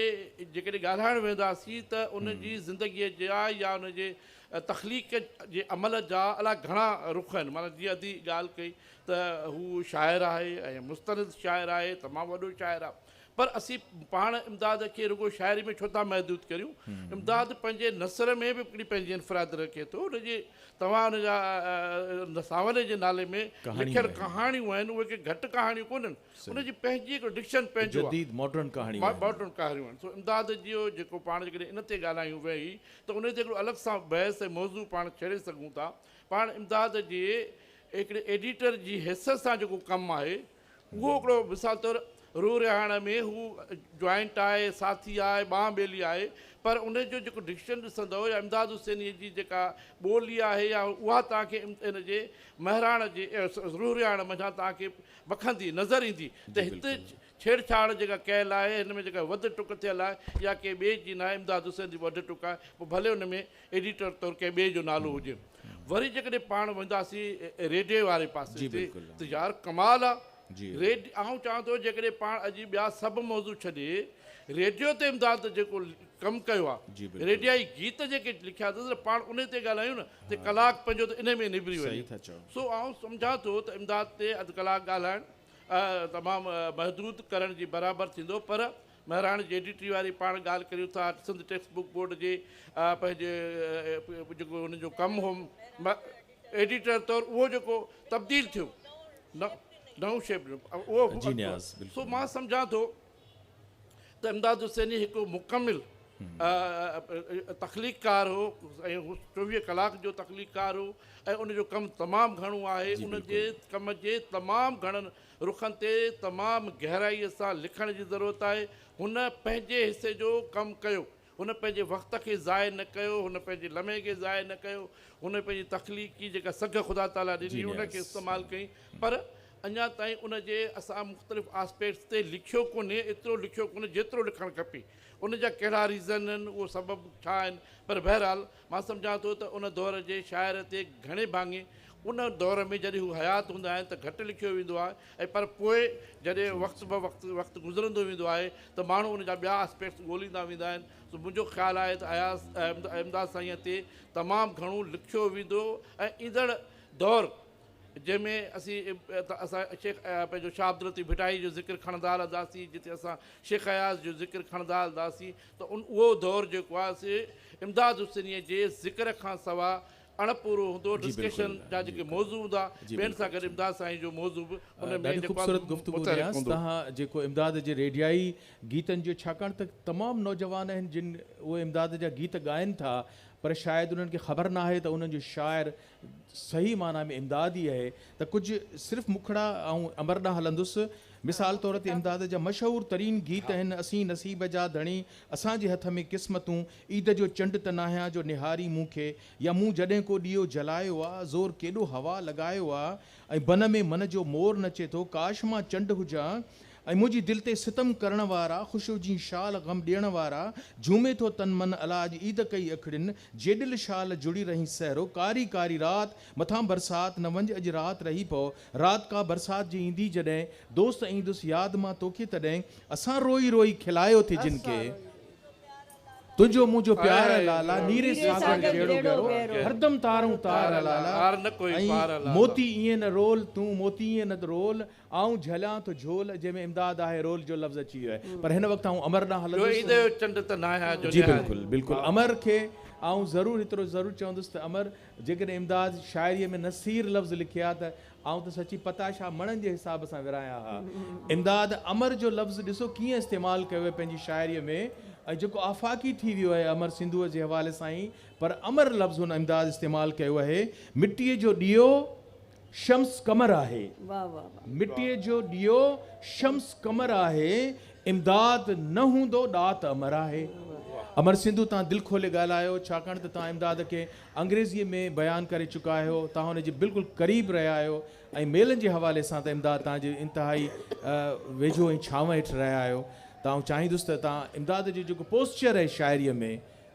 جيڪڏهن ڳالهائڻ ويهنداسين ته ان جي زندگيء جا يا ان جي تخليق جي عمل جا الاء گهڻا رخ آهن. معنيٰ جيئن ادي ڳالهه ڪئي ته هو شاعر آهي ۽ مستند شاعر آهي، تمام وڏو شاعر آهي. پر اسين پاڻ امداد کي رڳو شاعري ۾ ڇو ٿا محدود ڪريون؟ امداد پنهنجي نثر ۾ به هڪڙي پنهنجي انفرادي رکي ٿو. ان جي توهان ان جا سانولي جي نالي ۾ لکيل ڪهاڻيون آهن، اهي ڪي گهٽ ڪهاڻيون ڪونهن. ان جي پنهنجي هڪڙو ڊڪشن پنهنجو آهي. جديد ماڊرن ڪهاڻيون آهن. ماڊرن ڪهاڻيون آهن. سو امداد جي اهو جيڪو پاڻ جيڪڏهن ان تي ڳالهايون ويهي ته ان تي هڪڙو الڳ سان بحث ۽ موضوع پاڻ ڇيڙي سگهون ٿا. پاڻ امداد جي هڪڙي ايڊيٽر جي حيثيت سان جيڪو ڪم آهي اهو هڪڙو مثال طور روح رهاڻ ۾ هو جوائنٽ آهي، ساٿي آهي، ٻانهن ٻيلي آهي پر ان جو جيڪو ڊڪشن ڏسندؤ يا امداد حسينيء جي جيڪا ٻولي آهي يا اها توهان کي ان جي مهراڻ جي روح رهاڻ منجهان توهان کي وکندي نظر ايندي ته هت ڇيڙ ڇاڙ جيڪا ڪيل آهي هن ۾ جيڪا وڌ ٽڪ ٿيل آهي اها ڪنهن ٻئي جي ناهي امداد حسين جي وڍ ٽڪ آهي پوء ڀلي ان ۾ ايڊيٽر طور ڪنهن ٻئي جو نالو هجي وري جيڪڏهن پاڻ وينداسين ريڊي واري پاسي تي ته يار ڪمال آهي ريڊ آئون چاهيان ٿو جيڪڏهن پاڻ اڄ ٻيا سڀ موضوع ڇڏي ريڊيو تي امداد جيڪو ڪم ڪيو آ ريڊيائي گيت جيڪي لکيا اٿس نه پاڻ انهي تي ڳالهايون نه ته ڪلاڪ پنهنجو ته انهي ۾ نبري وڃي سو آئون سمجهان ٿو ته امداد تي اڌ ڪلاڪ ڳالهائڻ تمام محدود ڪرڻ جي برابر ٿيندو پر مهراڻ جي ايڊيٽري واري پاڻ ڳالهه ڪريون ٿا سنڌ ٽيڪسٽ بوڪ بورڊ جي پنهنجي جيڪو هن جو ڪم هو ايڊيٽر طور اهو جيڪو تبديل ٿيو نئون شيپ جو اهو سو مان سمجهان ٿو ته امداد حسيني هڪ مڪمل تخليق ڪار هو ۽ هو چوويهه ڪلاڪ جو تخليق ڪار هو ۽ ان جو ڪم تمام گهڻو آهي جي ان جي ڪم جي تمام گهڻن رخن تي تمام گهرائيء سان لکڻ جي ضرورت آهي هن پنهنجي حصي جو ڪم ڪيو هن پنهنجي وقت کي ضايع نه ڪيو، هن پنهنجي لمحي کي ضايع نه ڪيو، هن پنهنجي تخليقي جيڪا سگهه خدا تعاليٰ ڏني هئي ان کي استعمال ڪئي پر اڃا تائين ان جي اسان مختلف آسپيڪٽس تي لکيو ڪونهي ايترو لکيو ڪونهي جيترو لکڻ کپي ان جا ڪهڙا ريزن آهن اهو سبب ڇا آهن پر بهرحال مان سمجهان ٿو ته ان دور جي شاعر تي گهڻي ڀاڱي ان دور ۾ جڏهن هو حيات هوندا آهن ته گهٽ لکيو ويندو آهي ۽ پر پوء جڏهن وقت بوقت وقت گذرندو ويندو آهي ته ماڻهو ان جا ٻيا Aspects ڳوليندا ويندا آهن سو منهنجو خيال آهي ته اياز امداد سائينء تي تمام گهڻو لکيو ويندو ۽ ايندڙ دور جنهن ۾ اسين اسان شيخ پنهنجو شاهه عبداللطيف ڀٽائي جو ذڪر کڻندا هلنداسين جتي اسان شيخ اياز جو ذڪر کڻندا هلنداسين ته ان اهو دور جيڪو آهي سي امداد حسينيء جي ذڪر کان سوا اڻ پورو هوندو، ڊسڪشن جا جيڪي موضوع هوندا، ٻين سان گڏ امداد سائين جو موضوع به ان ۾ جيڪو آهي سو متحرڪ هوندو. جيڪو امداد جي ريڊيائي گيتن جو ڇاڪاڻ ته تمام نوجوان آهن جن اهي امداد جا گيت ڳائن ٿا پر شايد انهن کي خبر ناهي ته انهن جو شاعر صحيح معنيٰ ۾ امداد ئي اهي ته ڪجهه صرف مکڙا آئون امر ڏانهن هلندس. مثال طور تي امداد جا مشهور ترين گيت آهن، اسين نصيب جا ڌڻي، اسان جي هٿ ۾ قسمتون، عيد جو چنڊ ته ناهيان جو نهارين مون کي، يا مون جڏهن ڪو ڏيئو جلايو آ، زور ڪيڏو هوا لڳايو آ، ۽ بن ۾ من جو مور نچي ٿو، ڪاش مان چنڊ هجان، ۽ منهنجي دل تي ستم ڪرڻ وارا خوشيء جي شال غم ڏيڻ وارا جهومي ٿو تن من الا اڄ عيد ڪئي اکڙين جيڏل شال جڙي رهين سهرو ڪاري ڪاري رات مٿان برسات نه وڃ اڄ رات رهي پئو رات ڪا برسات جي ايندي جڏهن دوست ايندس ياد مان توکي تڏهن اسان روئي روئي کلايو ٿي جن کي تنهنجو منهنجو پيار لالا نيري ساگر جهڙو گهرو هردم تارون تار لالا ۽ موتي ائين نه رول تون موتي ائين نه رول آئون جهليان ٿو جهول، جنهن ۾ امداد آهي رول جو لفظ اچي ويو آهي. پر هن وقت آئون امر ڏانهن هلندس. جو ايندو اهو چنڊ ته ناهي ها جو نهاري. جي بلڪل بلڪل امر کي آئون ضرور هيترو ضرور چوندس ته امر جيڪڏهن امداد شاعريء ۾ نصير لفظ لکي ها ته آئون ته سچي پتاشا مڻن جي حساب سان ورهايان ها. امداد امر جو لفظ ڏسو ڪيئن استعمال ڪيو آهي پنهنجي شاعريء ۾ ۽ جيڪو آفاقي ٿي ويو آهي امر سنڌوء جي حوالي سان ئي پر امر لفظ هن امداد استعمال ڪيو آهي مٽيء جو ڏيئو شمس قمر آهي مٽيء جو ڏيئو شمس قمر آهي امداد نه هوندو ڏات امر آهي امر سنڌو تان دل کولي ڳالهايو ڇاڪاڻ ته تان امداد کي انگريزي ۾ بيان ڪري چڪا آهيو تان ان جي بلڪل قريب رهيا آهيو ۽ ميلن جي حوالي سان ته امداد تان جي انتهائي ويجهو ۽ ڇانو هيٺ رهيا آهيو تان چاهيندس ته تان امداد جو جيڪو پوسچر آهي شاعري ۾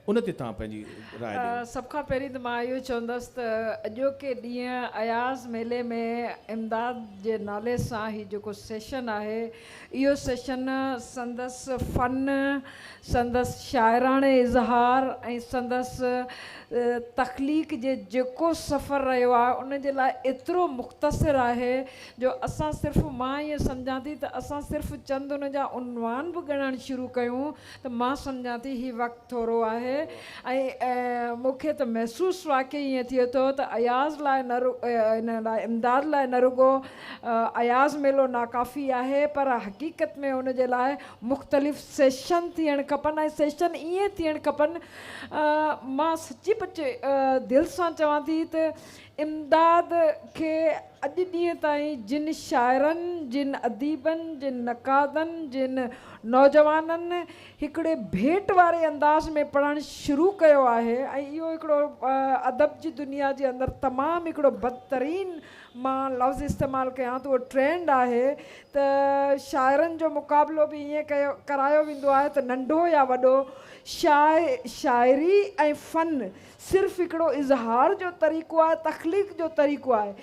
ان تي توهان پنهنجي راء ڏيو. سڀ کان پهرين ته مان اهو چوندس ته اڄوڪي ڏينهن اياز ميلي ۾ امداد جي نالي سان هي جيڪو سيشن آهي اهو سيشن سندس فن، سندس شاعراڻي اظهار ۽ سندس تخليق جي جيڪو سفر رهيو آهي ان جي لاء ايترو مختصر آهي جو اسان صرف مان ائين سمجهان ٿي ته اسان صرف چند ان جا عنوان به ڳڻڻ شروع ڪيون ته مان سمجهان ٿي هي وقت ٿورو آهي ۽ مون کي ته محسوس واقعي ائين ٿئي ٿو ته اياز لاء نه لاء امداد لاء نه رڳو اياز ميلو ناڪافي آهي پر حقيقت ۾ ان جي لاء مختلف سيشن ٿيڻ کپن ۽ سيشن ائين ٿيڻ کپن مان سچي پچي دل سان چوان ٿي ته امداد کي اڄ ڏينهن تائين جن شاعرن، جن اديبن، جن نقادن، جن نوجوانن هڪڙي ڀيٽ واري انداز ۾ پڙهڻ شروع ڪيو آهي ۽ اهو هڪڙو ادب جي دنيا جي اندر تمام هڪڙو بدترين مان لفظ استعمال ڪيان ته اهو ٽرينڊ آهي ته شاعرن جو مقابلو به ائين ڪيو ڪرايو ويندو آهي ته ننڍو يا وڏو شاعري ۽ فن صرف هڪڙو اظهار جو طريقو آهي، تخليق جو طريقو آهي.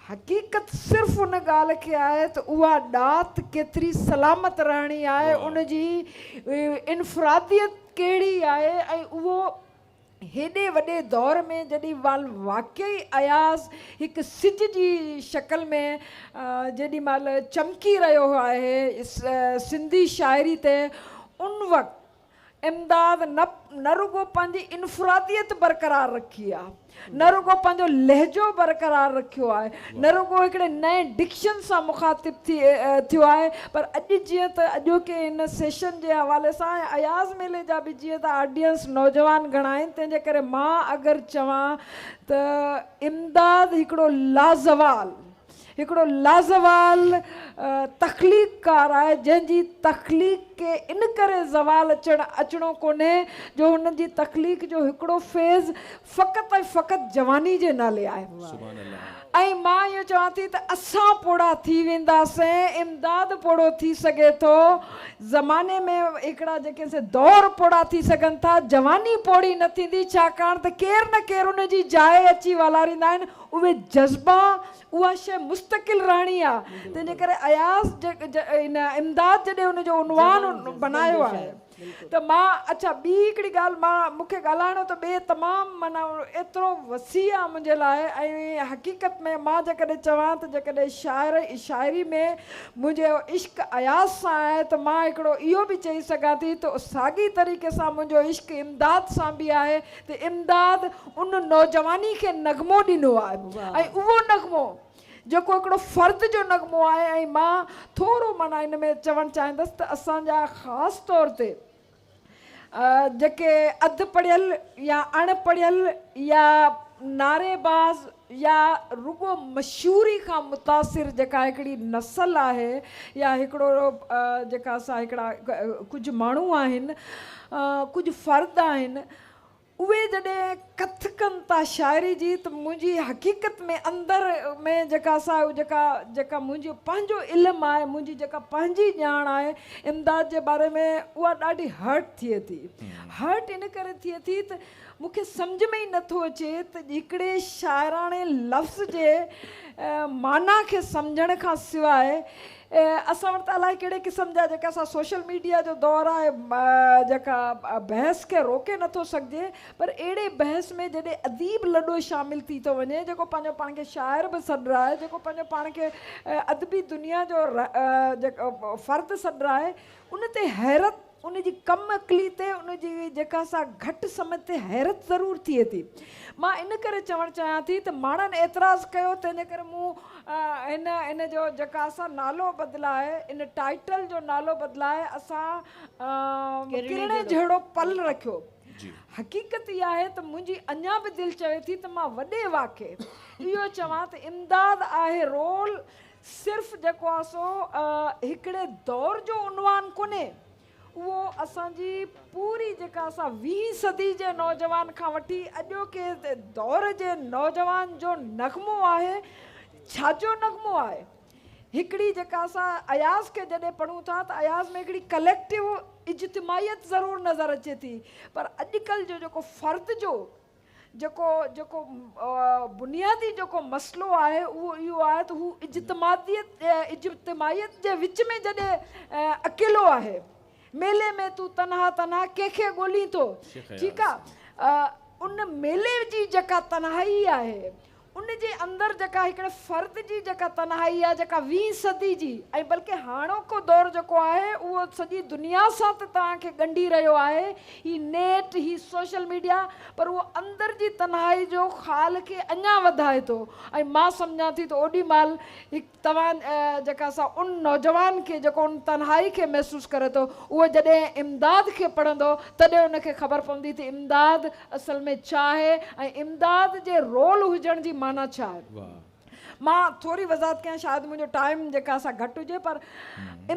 حقيقت صرف ان ڳالهه کي آهي ته اها ڏات ڪيتري سلامت رهڻي آهي، ان جي انفراديت ڪهڙي آهي ۽ اهو هيڏي وڏي دور ۾ جڏهن مال واقعي اياز هڪ سج جي شڪل ۾ جيڏي مال چمڪي رهيو آهي سنڌي شاعري تي ان وقت امداد نه نه رڳو پنهنجي انفراديت برقرار رکي آهي، نه رڳو پنهنجو لهجو برقرار رکيو آهي، نه رڳو هڪڙي نئين ڊڪشن سان مخاطب ٿي ٿيو آهي پر اڄ جيئن ته اڄوڪي هن سيشن جي حوالي سان ۽ اياز ميلي جا به جيئن ته آڊينس نوجوان گهڻا آهن تنهن جي ڪري مان اگر چوان ته امداد هڪڙو لازوال هڪڙو لازوال تخليقڪار آهي جنهن جي تخليق کي ان ڪري زوال اچڻ اچڻو ڪونهي جو هن جي تخليق جو هڪڙو فيز فقط ۽ فقط جواني جي نالي آهي ۽ مان اهو چوان ٿي ته اسان پوڙها ٿي وينداسين امداد پوڙهو ٿي سگهي ٿو زماني ۾ هڪڙا جيڪي سي دور پوڙها ٿي سگهن ٿا جواني پوڙهي نه ٿيندي ڇاڪاڻ ته ڪير نه ڪير ان جي جاء اچي والاريندا آهن اهي جذبا، اها شيء مستقل رهڻي آ، تنهن جي ڪري اياز امداد جڏهن ان جو عنوان بنايو آهي ته مان اڇا ٻي هڪڙي ڳالهه مان مون کي ڳالهائڻو ته ٻئي تمام معنيٰ ايترو وسيع آ منهنجي لاء ۽ حقيقت ۾ مان جيڪڏهن چوان ته جيڪڏهن شاعر شاعري ۾ منهنجو عشق اياز سان آهي ته مان هڪڙو اهو به چئي سگهان ٿي ته ساڳي طريقي سان منهنجو عشق امداد سان به آهي ته امداد ان نوجواني کي نغمو ڏنو آهي ۽ اهو نغمو جيڪو هڪڙو فرد جو نغمو آهي ۽ مان ٿورو معنيٰ ان ۾ چوڻ چاهيندس ته اسان جا خاص طور تي جيڪي اڌ پڙهيل يا اڻ پڙهيل يا نعري باز يا رڳو مشهوري کان متاثر جيڪا هڪڙي نسل آهي يا هڪڙو جيڪا اسان هڪڙا ڪجهه ماڻهو آهن ڪجهه فرد آهن اهي جڏهن ڪٿ ڪن ٿا شاعري جي ته منهنجي حقيقت ۾ اندر ۾ جيڪا اسان جيڪا جيڪا منهنجو پنهنجو علم آهي منهنجي جيڪا پنهنجي ڄاڻ آهي امداد جي باري ۾ اها ڏاڍي هرٽ ٿئي ٿي هرٽ ان ڪري ٿئي ٿي ته مون کي سمجهه ۾ ئي نه ٿو اچي ته هڪڙي شاعراڻي لفظ جي معنيٰ کي سمجهڻ کان سواء اسان وٽ ته الائي ڪهڙي قسم جا جيڪي اسان سوشل ميڊيا جو دور آهي جيڪا بحث کي روڪي نه ٿو سگهجي پر اهڙي بحث ۾ جڏهن اديب لڏو شامل ٿي ٿو وڃي جيڪو پنهنجو پاڻ کي شاعر به سڏرائي جيڪو پنهنجو پاڻ کي ادبي دنيا جو فرد سڏرائي ان تي حيرت ان جي ڪم عقلي تي ان جي جيڪا سا گهٽ سمجهه تي حيرت ضرور ٿئي ٿي. مان ان ڪري چوڻ چاهيان ٿي ته ماڻهن اعتراض ڪيو تنهنجي ڪري مون هن ان جو جيڪا سا نالو بدلائي ان ٽائيٽل جو نالو بدلائي اسان ڪرڻي جهڙو پل رکيو. حقيقت اها آهي ته منهنجي اڃا به دل چوي ٿي ته مان وڏي واڪي اهو چوان ته امداد آهي رول صرف جيڪو آ سو هڪڙي دور جو عنوان ڪونهي، اهو اسان جي پوري جيڪا اسا ويهين صدي جي نوجوان کان وٺي اڄوڪي دور جي نوجوان جو نغمو آهي، ڇاجو نغمو آهي؟ هڪڙي جيڪا اسا اياز کي جڏهن پڙهون ٿا ته اياز ۾ هڪڙي ڪليڪٽو اجتماعيت ضرور نظر اچي ٿي پر اڄڪلهه جو جيڪو فرد جو جيڪو جيڪو بنيادي جيڪو مسئلو آهي اهو اهو آهي ته هو اجتماعيت اجتماعيت جي وچ ۾ جڏهن اڪيلو آهي ميلي ۾ تون تنها تنها ڪنهن کي ڳولين ٿو ٺيڪ آهي ان ميلي جي جيڪا تنهائي آهي ان جي اندر جيڪا هڪڙي فرد جي جيڪا تنهائي آهي جيڪا ويهين صدي جي ۽ بلڪه هاڻوڪو دور جيڪو آهي اهو سڄي دنيا سان ته توهان کي ڳنڍي رهيو آهي هي نيٽ هي سوشل ميڊيا پر اهو اندر جي تنهائي جو خال کي اڃان وڌائي ٿو ۽ مان سمجهان ٿي ته اوڏي مهل هڪ توهان جيڪا سا ان نوجوان کي جيڪو ان تنهائي کي محسوس ڪري ٿو اهو جڏهن امداد کي پڙهندو تڏهن ان کي خبر پوندي ته امداد اصل ۾ ڇا آهي ۽ امداد جي رول هجڻ جي معنيٰ ڇا آهي. مان ٿوري وضاحت ڪيان شايد منهنجو ٽائيم جيڪا سا گهٽ هجي پر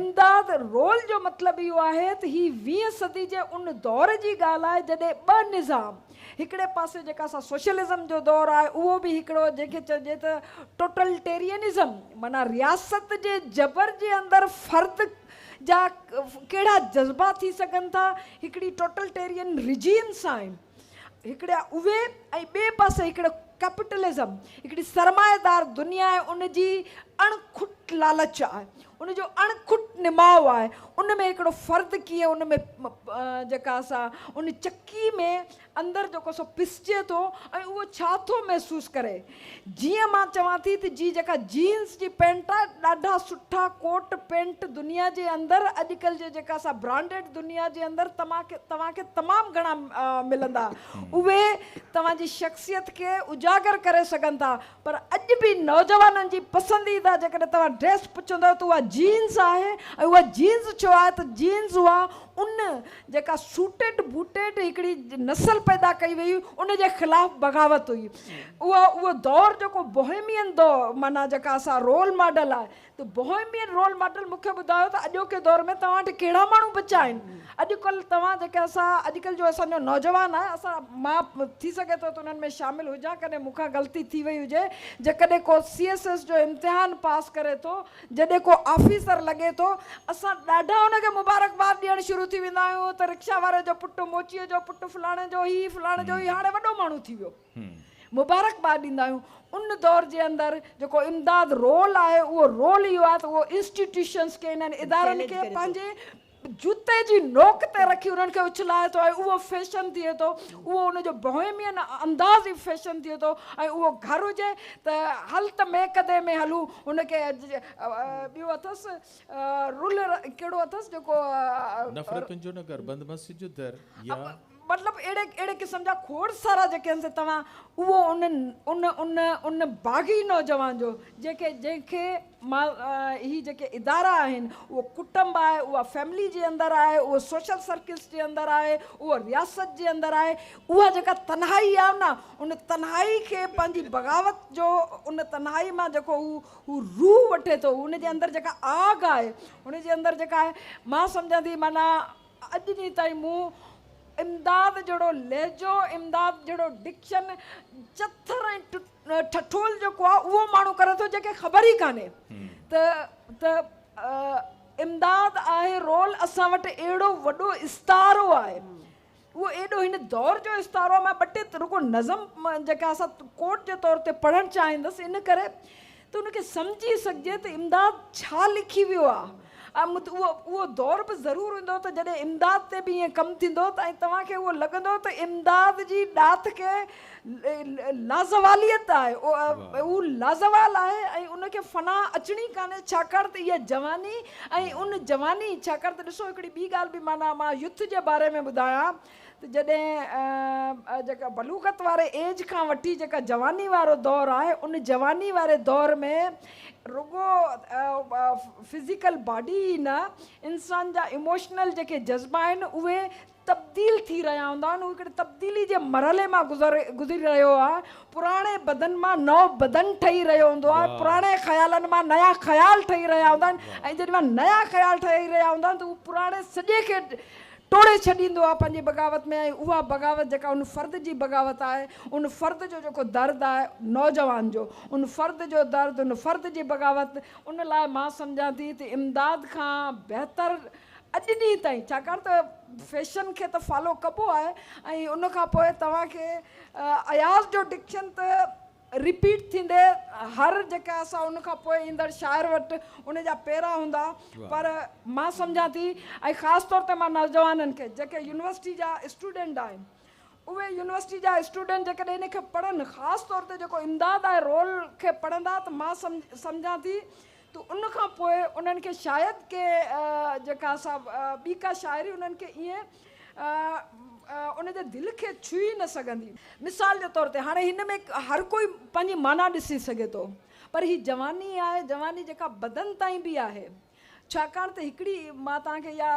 امداد رول جو مطلب اهو آهي ته هي ويهين صدي جي ان دور جي ڳالهه آهي جڏهن ٻه نظام هڪڙي پاسي جيڪا سا سوشلزم جو دور آهي اهو به هڪڙو جنهن کي چئجي ته ٽوٽلٽيرينزم معنيٰ رياست جي جبر جي اندر فرد جا ڪهڙا جذبا ٿي سگهن ٿا هڪڙي ٽوٽلٽيرين رجيم سان هڪڙي اهي ۽ ٻئي پاسي هڪڙو ڪيپيٽلزم هڪڙي سرمائيدار دنيا ۽ ان جي اڻ کٽ لالچ آهي ان جو اڻ کٽ نماء آهي. ان ۾ هڪڙو فرد ڪيئن ان ۾ جيڪا سا ان چڪي ۾ اندر جيڪو سو پسجي ٿو ۽ اهو ڇا ٿو محسوس ڪري. جيئن مان چوان ٿي ته جي جيڪا جينز جي پينٽ آهي ڏاڍا سٺا ڪوٽ پينٽ دنيا جي اندر اڄ ڪلهه جي جيڪا سا برانڊيڊ دنيا جي اندر توهان کي تمام گهڻا ملندا. اهي توهان جي شخصيت کي اجاگر ڪري سگهن ٿا. پر اڄ به نوجوانن جي پسنديده جيڪڏهن توهان ڊريس پڇندؤ ته اها جينز آهي ۽ اها جينز ڇو آهي ته جينز اها ان جيڪا سوٽيڊ بوٽيڊ هڪڙي نسل پيدا ڪئي وئي هئي ان جي خلاف بغاوت هئي اها اهو دور جيڪو بوهيمين دور معنيٰ جيڪا اسان رول ماڊل آهي ته بوهيمين رول ماڊل مون کي ٻڌايو ته اڄوڪي دور ۾ توهان وٽ ڪهڙا ماڻهو بچيا آهن. اڄڪلهه توهان جيڪي اسان اڄڪلهه جو اسان جو نوجوان آهي اسان مان ٿي سگهي ٿو ته انهن ۾ شامل هجان ڪڏهن مون کان غلطي ٿي وئي هجي جيڪڏهن ڪو سي ايس ايس جو امتحان پاس ڪري ٿو جڏهن ڪو آفيسر لڳي ٿو اسان ڏاڍا ان کي مبارڪباد ڏيڻ شروع ٿي ويندا آهيون ته رڪشا واري جو پٽ موچيء جو پٽ فلاڻي جو هي فلاڻي جو هي هاڻي وڏو ماڻهو ٿي ويو. مبارڪباد ڏيندا آهيون ان دور جي اندر جيڪو امداد رول آهي اهو رول اهو آهي ته اهو انسٽيٽيوشنس کي انهن ادارن کي پنهنجي جوتي جي نوڪ تي رکي انهن کي اڇلائي ٿو ۽ اهو فيشن ٿئي ٿو اهو ان جو بوهيمين انداز ئي فيشن ٿئي ٿو ۽ اهو گهر هجي ته هل ته ميڪدي ۾ هلون ان کي ٻيو اٿس رول ڪهڙو اٿس جيڪو نفرتن جو نگر بند مسجد جو در يا مطلب اهڙي اهڙي قسم جا کوڙ سارا جيڪي آهن سي توهان اهو ان ان ان ان باغي نوجوان جو جيڪي جنهن کي مال هي جيڪي ادارا آهن اهو ڪٽنب آهي اها فيملي جي اندر آهي اهو سوشل سرڪلس جي اندر آهي اهو رياست جي اندر آهي اها جيڪا تنهائي آهي نه ان تنهائي کي پنهنجي بغاوت جو ان تنهائي مان جيڪو هو هو روح وٺي ٿو ان جي اندر جيڪا آگ آهي ان جي اندر جيڪا آهي مان سمجهان ٿي معنيٰ اڄ ڏينهن تائين مون امداد جهڙو لهجو، امداد جهڙو ڊڪشن، چٿر ۽ ٺٺول جيڪو آهي اهو ماڻهو ڪري ٿو جنهن کي خبر ئي ڪانهي ته ته امداد آهي رول اسان وٽ اهڙو وڏو استعارو آهي اهو ايڏو هن دور جو استعارو آهي مان ٻه ٽي رڳو نظم جيڪا اسان ڪوٽ جي طور تي پڙهڻ چاهيندس ان ڪري ته ان کي سمجهي سگهجي ته امداد ڇا لکي ويو آ ۽ اهو دور به ضرور ايندو ته جڏهن امداد تي به ائين ڪم ٿيندو ته ۽ توهان کي اهو لڳندو ته امداد جي ڏات ڪي لازواليت آهي اهو لازوال آهي ۽ ان کي فنا اچڻي ڪانهي ڇاڪاڻ ته اها جواني ۽ ان جواني ڇاڪاڻ ته ڏسو هڪڙي ٻي ڳالهه به معنيٰ مان يوٿ جي باري ۾ ٻڌايان ته جڏهن جيڪا بلوغت واري ايج کان وٺي جيڪا جواني وارو دور آهي ان جواني واري دور ۾ رڳو فزيڪل باڊي ئي نه انسان جا ايموشنل جيڪي جذبا آهن اهي تبديل ٿي رهيا هوندا آهن هو هڪڙي تبديلي جي مرحلي مان گذري رهيو آهي پراڻي بدن مان نئو بدن ٺهي رهيو هوندو آهي پراڻي خيالن مان نيا خيال ٺهي رهيا هوندا آهن ۽ جڏهن نيا خيال ٺهي رهيا هوندا آهن ته هو پراڻي سڄي کي ٽوڙي ڇڏيندو آهي پنهنجي بغاوت ۾ ۽ اها بغاوت جيڪا ان فرد جي بغاوت آهي، ان فرد جو جيڪو درد آهي نوجوان جو ان فرد جو درد ان فرد جي بغاوت ان لاء مان سمجهان ٿي ته امداد کان بهتر اڄ ڏينهن تائين ڇاڪاڻ ته فيشن کي ته فالو ڪبو آهي ۽ ان کان پوء توهان کي اياز جو ڊڪشن ته رپيٽ ٿيندي هر جيڪا اسان ان کان پوء ايندڙ شاعر وٽ ان جا پيرا هوندا پر مان سمجهان ٿي ۽ خاص طور تي مان نوجوانن کي جيڪي يونيورسٽي جا اسٽوڊنٽ آهن اهي يونيورسٽي جا اسٽوڊنٽ جيڪڏهن ان کي پڙهن خاص طور تي جيڪو امداد آهي رول کي پڙهندا ته مان سمجهان ٿي ته ان کان پوء انهن کي شايد ڪي جيڪا سا ٻي ڪا شاعري انهن کي ائين ان جي دل کي ڇهي نه سگهندي. مثال جي طور تي هاڻي هن ۾ هر ڪوئي پنهنجي معنيٰ ڏسي سگهي ٿو پر هي جواني آهي جواني جيڪا بدن تائين به آهي ڇاڪاڻ ته هڪڙي مان توهان کي اها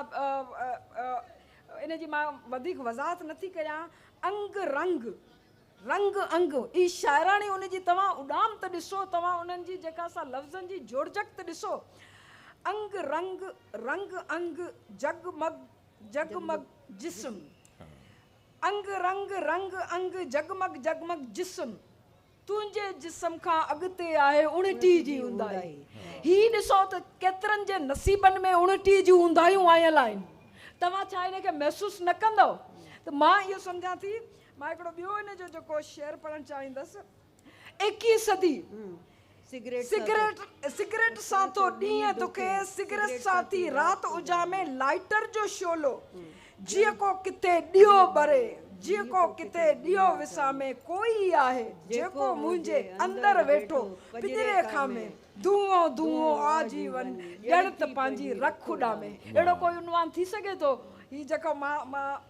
ان جي مان وڌيڪ وضاحت نه ٿي ڪريان انگ رنگ رنگ انگ ئي شاعراڻي ان جي توهان اڏام ته ڏسو، توهان انهن جي جيڪا سا لفظن جي جوڙجڪت ڏسو، انگ رنگ، رنگ انگ، جڳ مڳ، جڳ مڳ، جسم. انگ رنگ، رنگ انگ، جڳ مڳ، جڳ مڳ، جسم. تنهنجي جسم کان اڳتي آهي اڻٽي جي اونداهي. هي ڏسو ته ڪيترن جي نصيبن ۾ اڻٽي جون اونداهيون آيل آهن. توهان ڇا ان کي محسوس نه ڪندؤ؟ ته مان اهو سمجهان ٿي. مان هڪڙو ٻيو هن جو جيڪو شعر پڙهڻ چاهيندس. ايڪيهين صدي سگريٽ سان ٿو ڏينهن دکي سگريٽ سان ٿي رات اجامي لائيٽر جو شعلو جيڪو ڪٿي ڏيئو ٻري جيڪو ڪٿي ڏيئو وسامي ڪو ئي آهي جيڪو منهنجي اندر ويٺو پڄري کامي دونهو دونهو آ جيون ڄڻ ته پنهنجي رک اڏامي. اهڙو ڪوئي عنوان ٿي سگهي ٿو هي جيڪو مان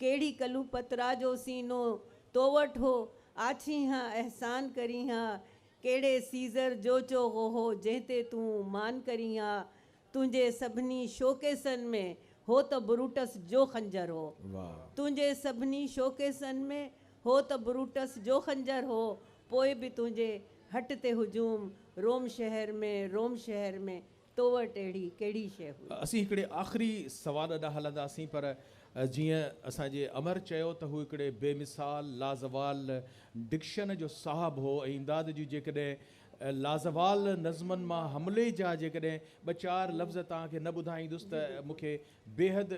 ڪهڙي ڪلوپترا جو سينو تو وٽ هو، آڇين ها احسان ڪرين ها، ڪهڙي سيزر جو چوغو هو جنهن تي تون مان ڪرين ها، تنهنجي سڀني شوڪيسن ۾ هو ته بروٽس جو خنجر هو، تنهنجي سڀني شوڪيسن ۾ هو ته بروٽس جو خنجر هو، پوء به تنهنجي هٽ تي هجوم، روم شهر ۾، روم شهر ۾، تو وٽ اهڙي ڪهڙي شيء هئي؟ اسين هڪڙي آخري سوال ڏانهن هلنداسين پر جيئن اسان جي امر چيو ته هو هڪڙي بي مثال لازوال ڊڪشن جو صاحب هو ۽ امداد جون جيڪڏهن لازوال نظمن مان حملي جا جيڪڏهن ٻه چار لفظ توهان کي نه ٻڌائيندس ته مون کي بيحد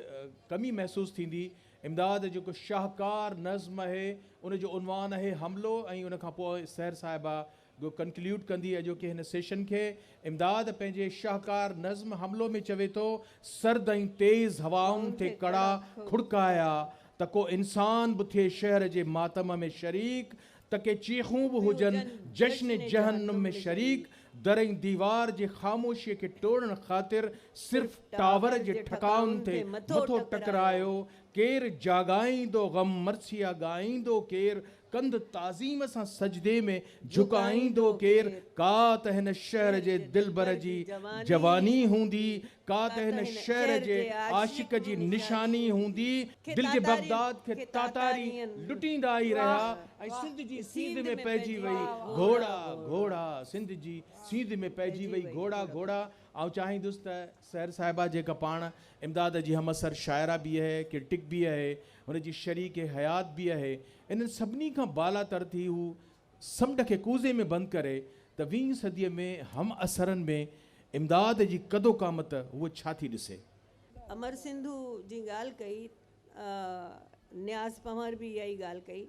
ڪمي محسوس ٿيندي. امداد جيڪو شاهڪار نظم اهي ان جو عنوان اهي حملو ۽ ان کان پوء سحر صاحبه گو ڪنڪليوڊ ڪندي اڄوڪي هن سيشن کي امداد پنهنجي شاهڪار نظم حملو ۾ چوي ٿو، سرد ۽ تيز هوائن ٿي ڪڙا کڙڪايا ته ڪو انسان به ٿئي شهر جي ماتم ۾ شريڪ ته ڪي چيخون به هجن جشن جهنم ۾ شريڪ در ۽ ديوار جي خاموشيء کي ٽوڙڻ خاطر صرف ٽاور جي ٺڪائن ٿي مٿو ٽڪرايو ڪير جاڳائيندو غم مرثيه ڳائيندو ڪير ڪنڌ تعظيم سان سجدي ۾ جهڪائيندو ڪير ڪا ته هن شهر جي دلبر جي جواني هوندي ڪا ته هن شهر جي عاشق جي نشاني هوندي دل جي بغداد کي تاتاري لٽيندا ئي رهيا ۽ سنڌ جي سينڌ ۾ پئجي وئي گهوڙا گهوڙا سنڌ جي سينڌ ۾ پئجي وئي گهوڙا گهوڙا آئون چاهيندس ته سحر صاحبه جيڪا پاڻ امداد جي همعصر شاعره به اهي، ڪرٽڪ به اهي، هن جي شريڪ حيات به اهي، انهن سڀني کان بالا تر ٿي هو سمنڊ کي ڪوزي ۾ بند ڪري ته ويهين صديء ۾ همعصرن ۾ امداد جي قد و قامت هوء ڇا ٿي ڏسي؟ امر سنڌو جي ڳالهه ڪئي، نياز پنهور به اها ئي ڳالهه ڪئي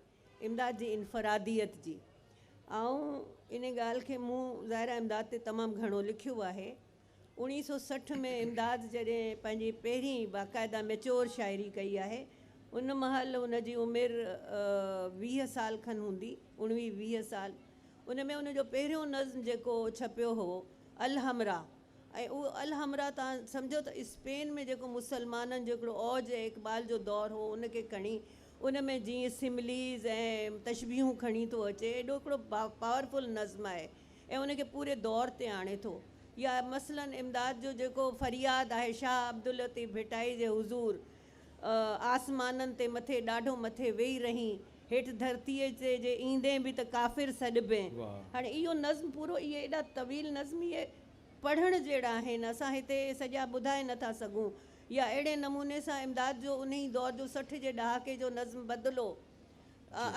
امداد جي انفراديت جي. آئون ان ڳالهه کي مون ظاهر آهي امداد تي تمام گهڻو لکيو آهي. اڻيهه سؤ سٺ ۾ امداد جڏهن پنهنجي پهرين باقاعده ميچوئر شاعري ڪئي آهي، ان مهل ان جي عمر ويهه سال کن هوندي، اڻويهه ويهه سال. ان ۾ ان جو پهريون نظم جيڪو ڇپيو هو الحمراء ۽ اهو الحمراء تان سمجهو ته اسپين ۾ جيڪو مسلمانن جو هڪڙو اوج ۽ اقبال جو دور هو ان کي کڻي ان ۾ جيئن سمليز ۽ تشبيهون کڻي ٿو اچي ايڏو هڪڙو پاورفل نظم آهي. ۽ ان کي پوري دور تي آڻي ٿو. يا مثلاً امداد جو جيڪو فرياد آهي شاهه عبداللطيف ڀٽائي جي حضور آسمانن تي مٿي ڏاڍو مٿي ويهي رهين هيٺ ڌرتيء تي جي ايندين به ته ڪافر سڏبين. هاڻي اهو نظم پورو اهي ايڏا طويل نظم اهي پڙهڻ جهڙا آهن اسان هتي اهي سڄا ٻڌائي نه ٿا سگهون. يا اهڙي نموني سان امداد جو انهي دور جو سٺ جي ڏهاڪي جو نظم بدلو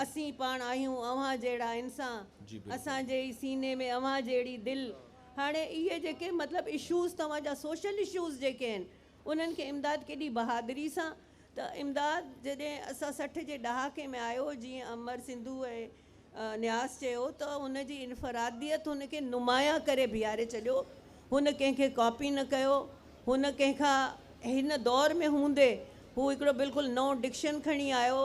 اسين پاڻ آهيون اوهان جهڙا انسان اسان جي ئي سيني ۾ اوهان جهڙي دل هاڻي اهي جيڪي مطلب اشوز توهان جا سوشل اشوز جيڪي آهن انهن کي امداد ڪيڏي بهادري سان ته امداد جڏهن اسان سٺ جي ڏهاڪي ۾ آيو جيئن امر سنڌو ۽ نياز چيو ته ان جي انفراديت هن کي نمايان ڪري بيهاري ڇڏيو هن ڪنهن کي ڪاپي نه ڪيو. هن ڪنهن کان هن دور ۾ هوندي هو هڪڙو بلڪل نئون ڊڪشن کڻي آيو.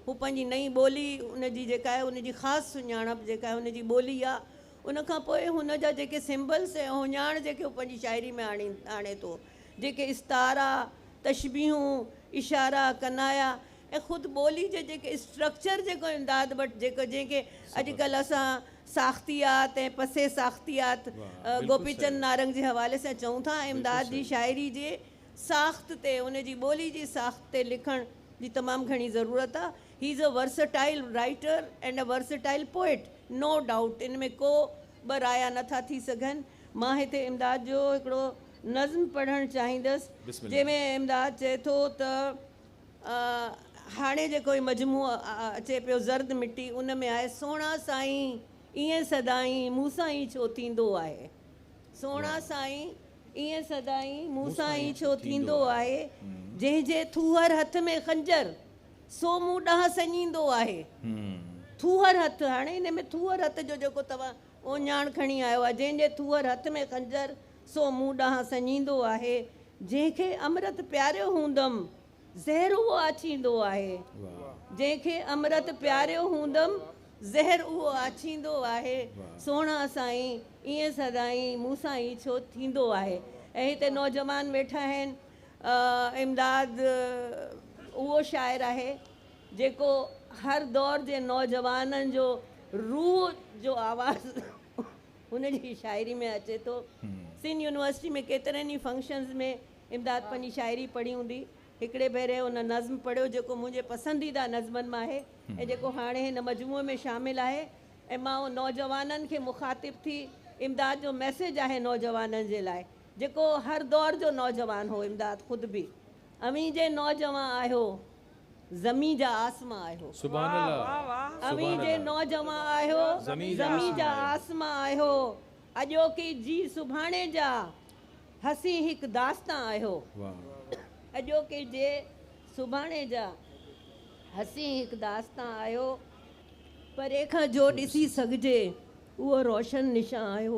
هو پنهنجي نئين ٻولي ان جي جيڪا آهي ان جي خاص سڃاڻپ جيڪا آهي ان جي ٻولي آ. ان کان پوء هن جا جيڪي سمبلس ۽ هڃاڻ جيڪي هو پنهنجي شاعري ۾ آڻي آڻي ٿو. جيڪي استعارا، تشبيهون، اشارا، ڪنايا ۽ خود ٻولي جي جيڪي اسٽرڪچر جيڪو امداد وٽ جيڪو جنهن کي اڄ ڪلهه اسان ساختيات ۽ پسئ ساختيات گوپي چند نارنگ جي حوالي سان چئون ٿا امداد جي شاعري جي ساخت تي ان جي ٻولي جي ساخت تي لکڻ جي تمام گهڻي ضرورت آ هي is a versatile writer and a versatile poet no doubt ان ۾ ڪو ٻه رايا نه ٿا ٿي سگهن مان هتي امداد جو هڪڙو نظم پڙهڻ چاهيندس جنهن ۾ امداد چئي ٿو ته. هاڻي جيڪو هي مجموعو اچي پيو زرد مٽي ان ۾ آهي سهڻا سائين ائين سدائين مون سان ئي ڇو ٿيندو آهي سهڻا سائين ائين سدائين مون سان ئي ڇو ٿيندو آهي جنهن جي ٿوهر هٿ ۾ خنجر سو مون ڏانهن سڃيندو آهي ٿوهر هٿ هاڻي ان ۾ ٿوهر هٿ جو جيڪو توهان اوڃاڻ کڻي آيو آهي، جنهن جي ٿوهر هٿ ۾ خنجر، سو مون ڏانهن سڃيندو آهي، جنهن کي امرت پياريو هوندم، زهر اهو آڇيندو آهي، جنهن کي امرت پياريو هوندم، زهر اهو آڇيندو آهي، سهڻا سائين، ائين سدائين مون سان ئي ڇو ٿيندو آهي؟ ۽ هتي نوجوان ويٺا آهن، امداد اهو شاعر آهي، جيڪو هر دور جي نوجوانن جو روح جو آواز هن جي شاعري ۾ اچي ٿو. سنڌ يونيورسٽي ۾ ڪيترن ئي فنڪشنز ۾ امداد پنهنجي شاعري پڙهي هوندي. هڪڙي ڀيري هن نظم پڙهيو جيڪو منهنجي پسنديده نظمن مان آهي ۽ جيڪو هاڻي هن مجموعي ۾ شامل آهي ۽ مان نوجوانن کي مخاطب ٿي امداد جو ميسيج آهي نوجوانن جي لاء جيڪو هر دور جو نوجوان هو امداد خود به اوهين جي نوجوان آهيو زمين جا آسمان آهيو. اوهين جي نوجوان آهيو زمين جا آسمان آهيو. اڄوڪي جي سڀاڻي جا حسين هڪ داستان آهيو. اڄوڪي جي سڀاڻي جا حسين هڪ داستان آهيو. پري کان جو ڏسي سگهجي اهو روشن نشان آهيو.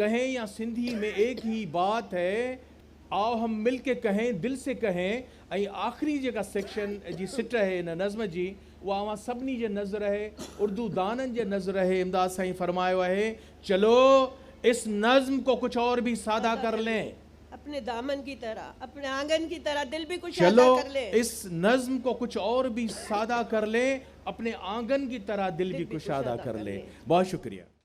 ڪهين يا سنڌي ۾ ايڪ هي بات هي آو هم مل ڪي ڪهين دل سي ڪهين ۽ آخري جيڪا سيڪشن جي سٽ هي هن نظم جي اها اوهان سڀني جي نذر هي اردو دانن جي نذر هي امداد سائين فرمايو اهي چلو اس نظم ڪو ڪجھ اور ڀي سادا ڪر لين اپني دامن ڪي طرح اپني آنگن ڪي طرح دل ڀي ڪشادا ڪر لين. چلو اس نظم ڪو ڪجھ اور ڀي سادا ڪر لين اپني آنگن ڪي طرح دل ڀي ڪشادا ڪر لين بهت شڪريه.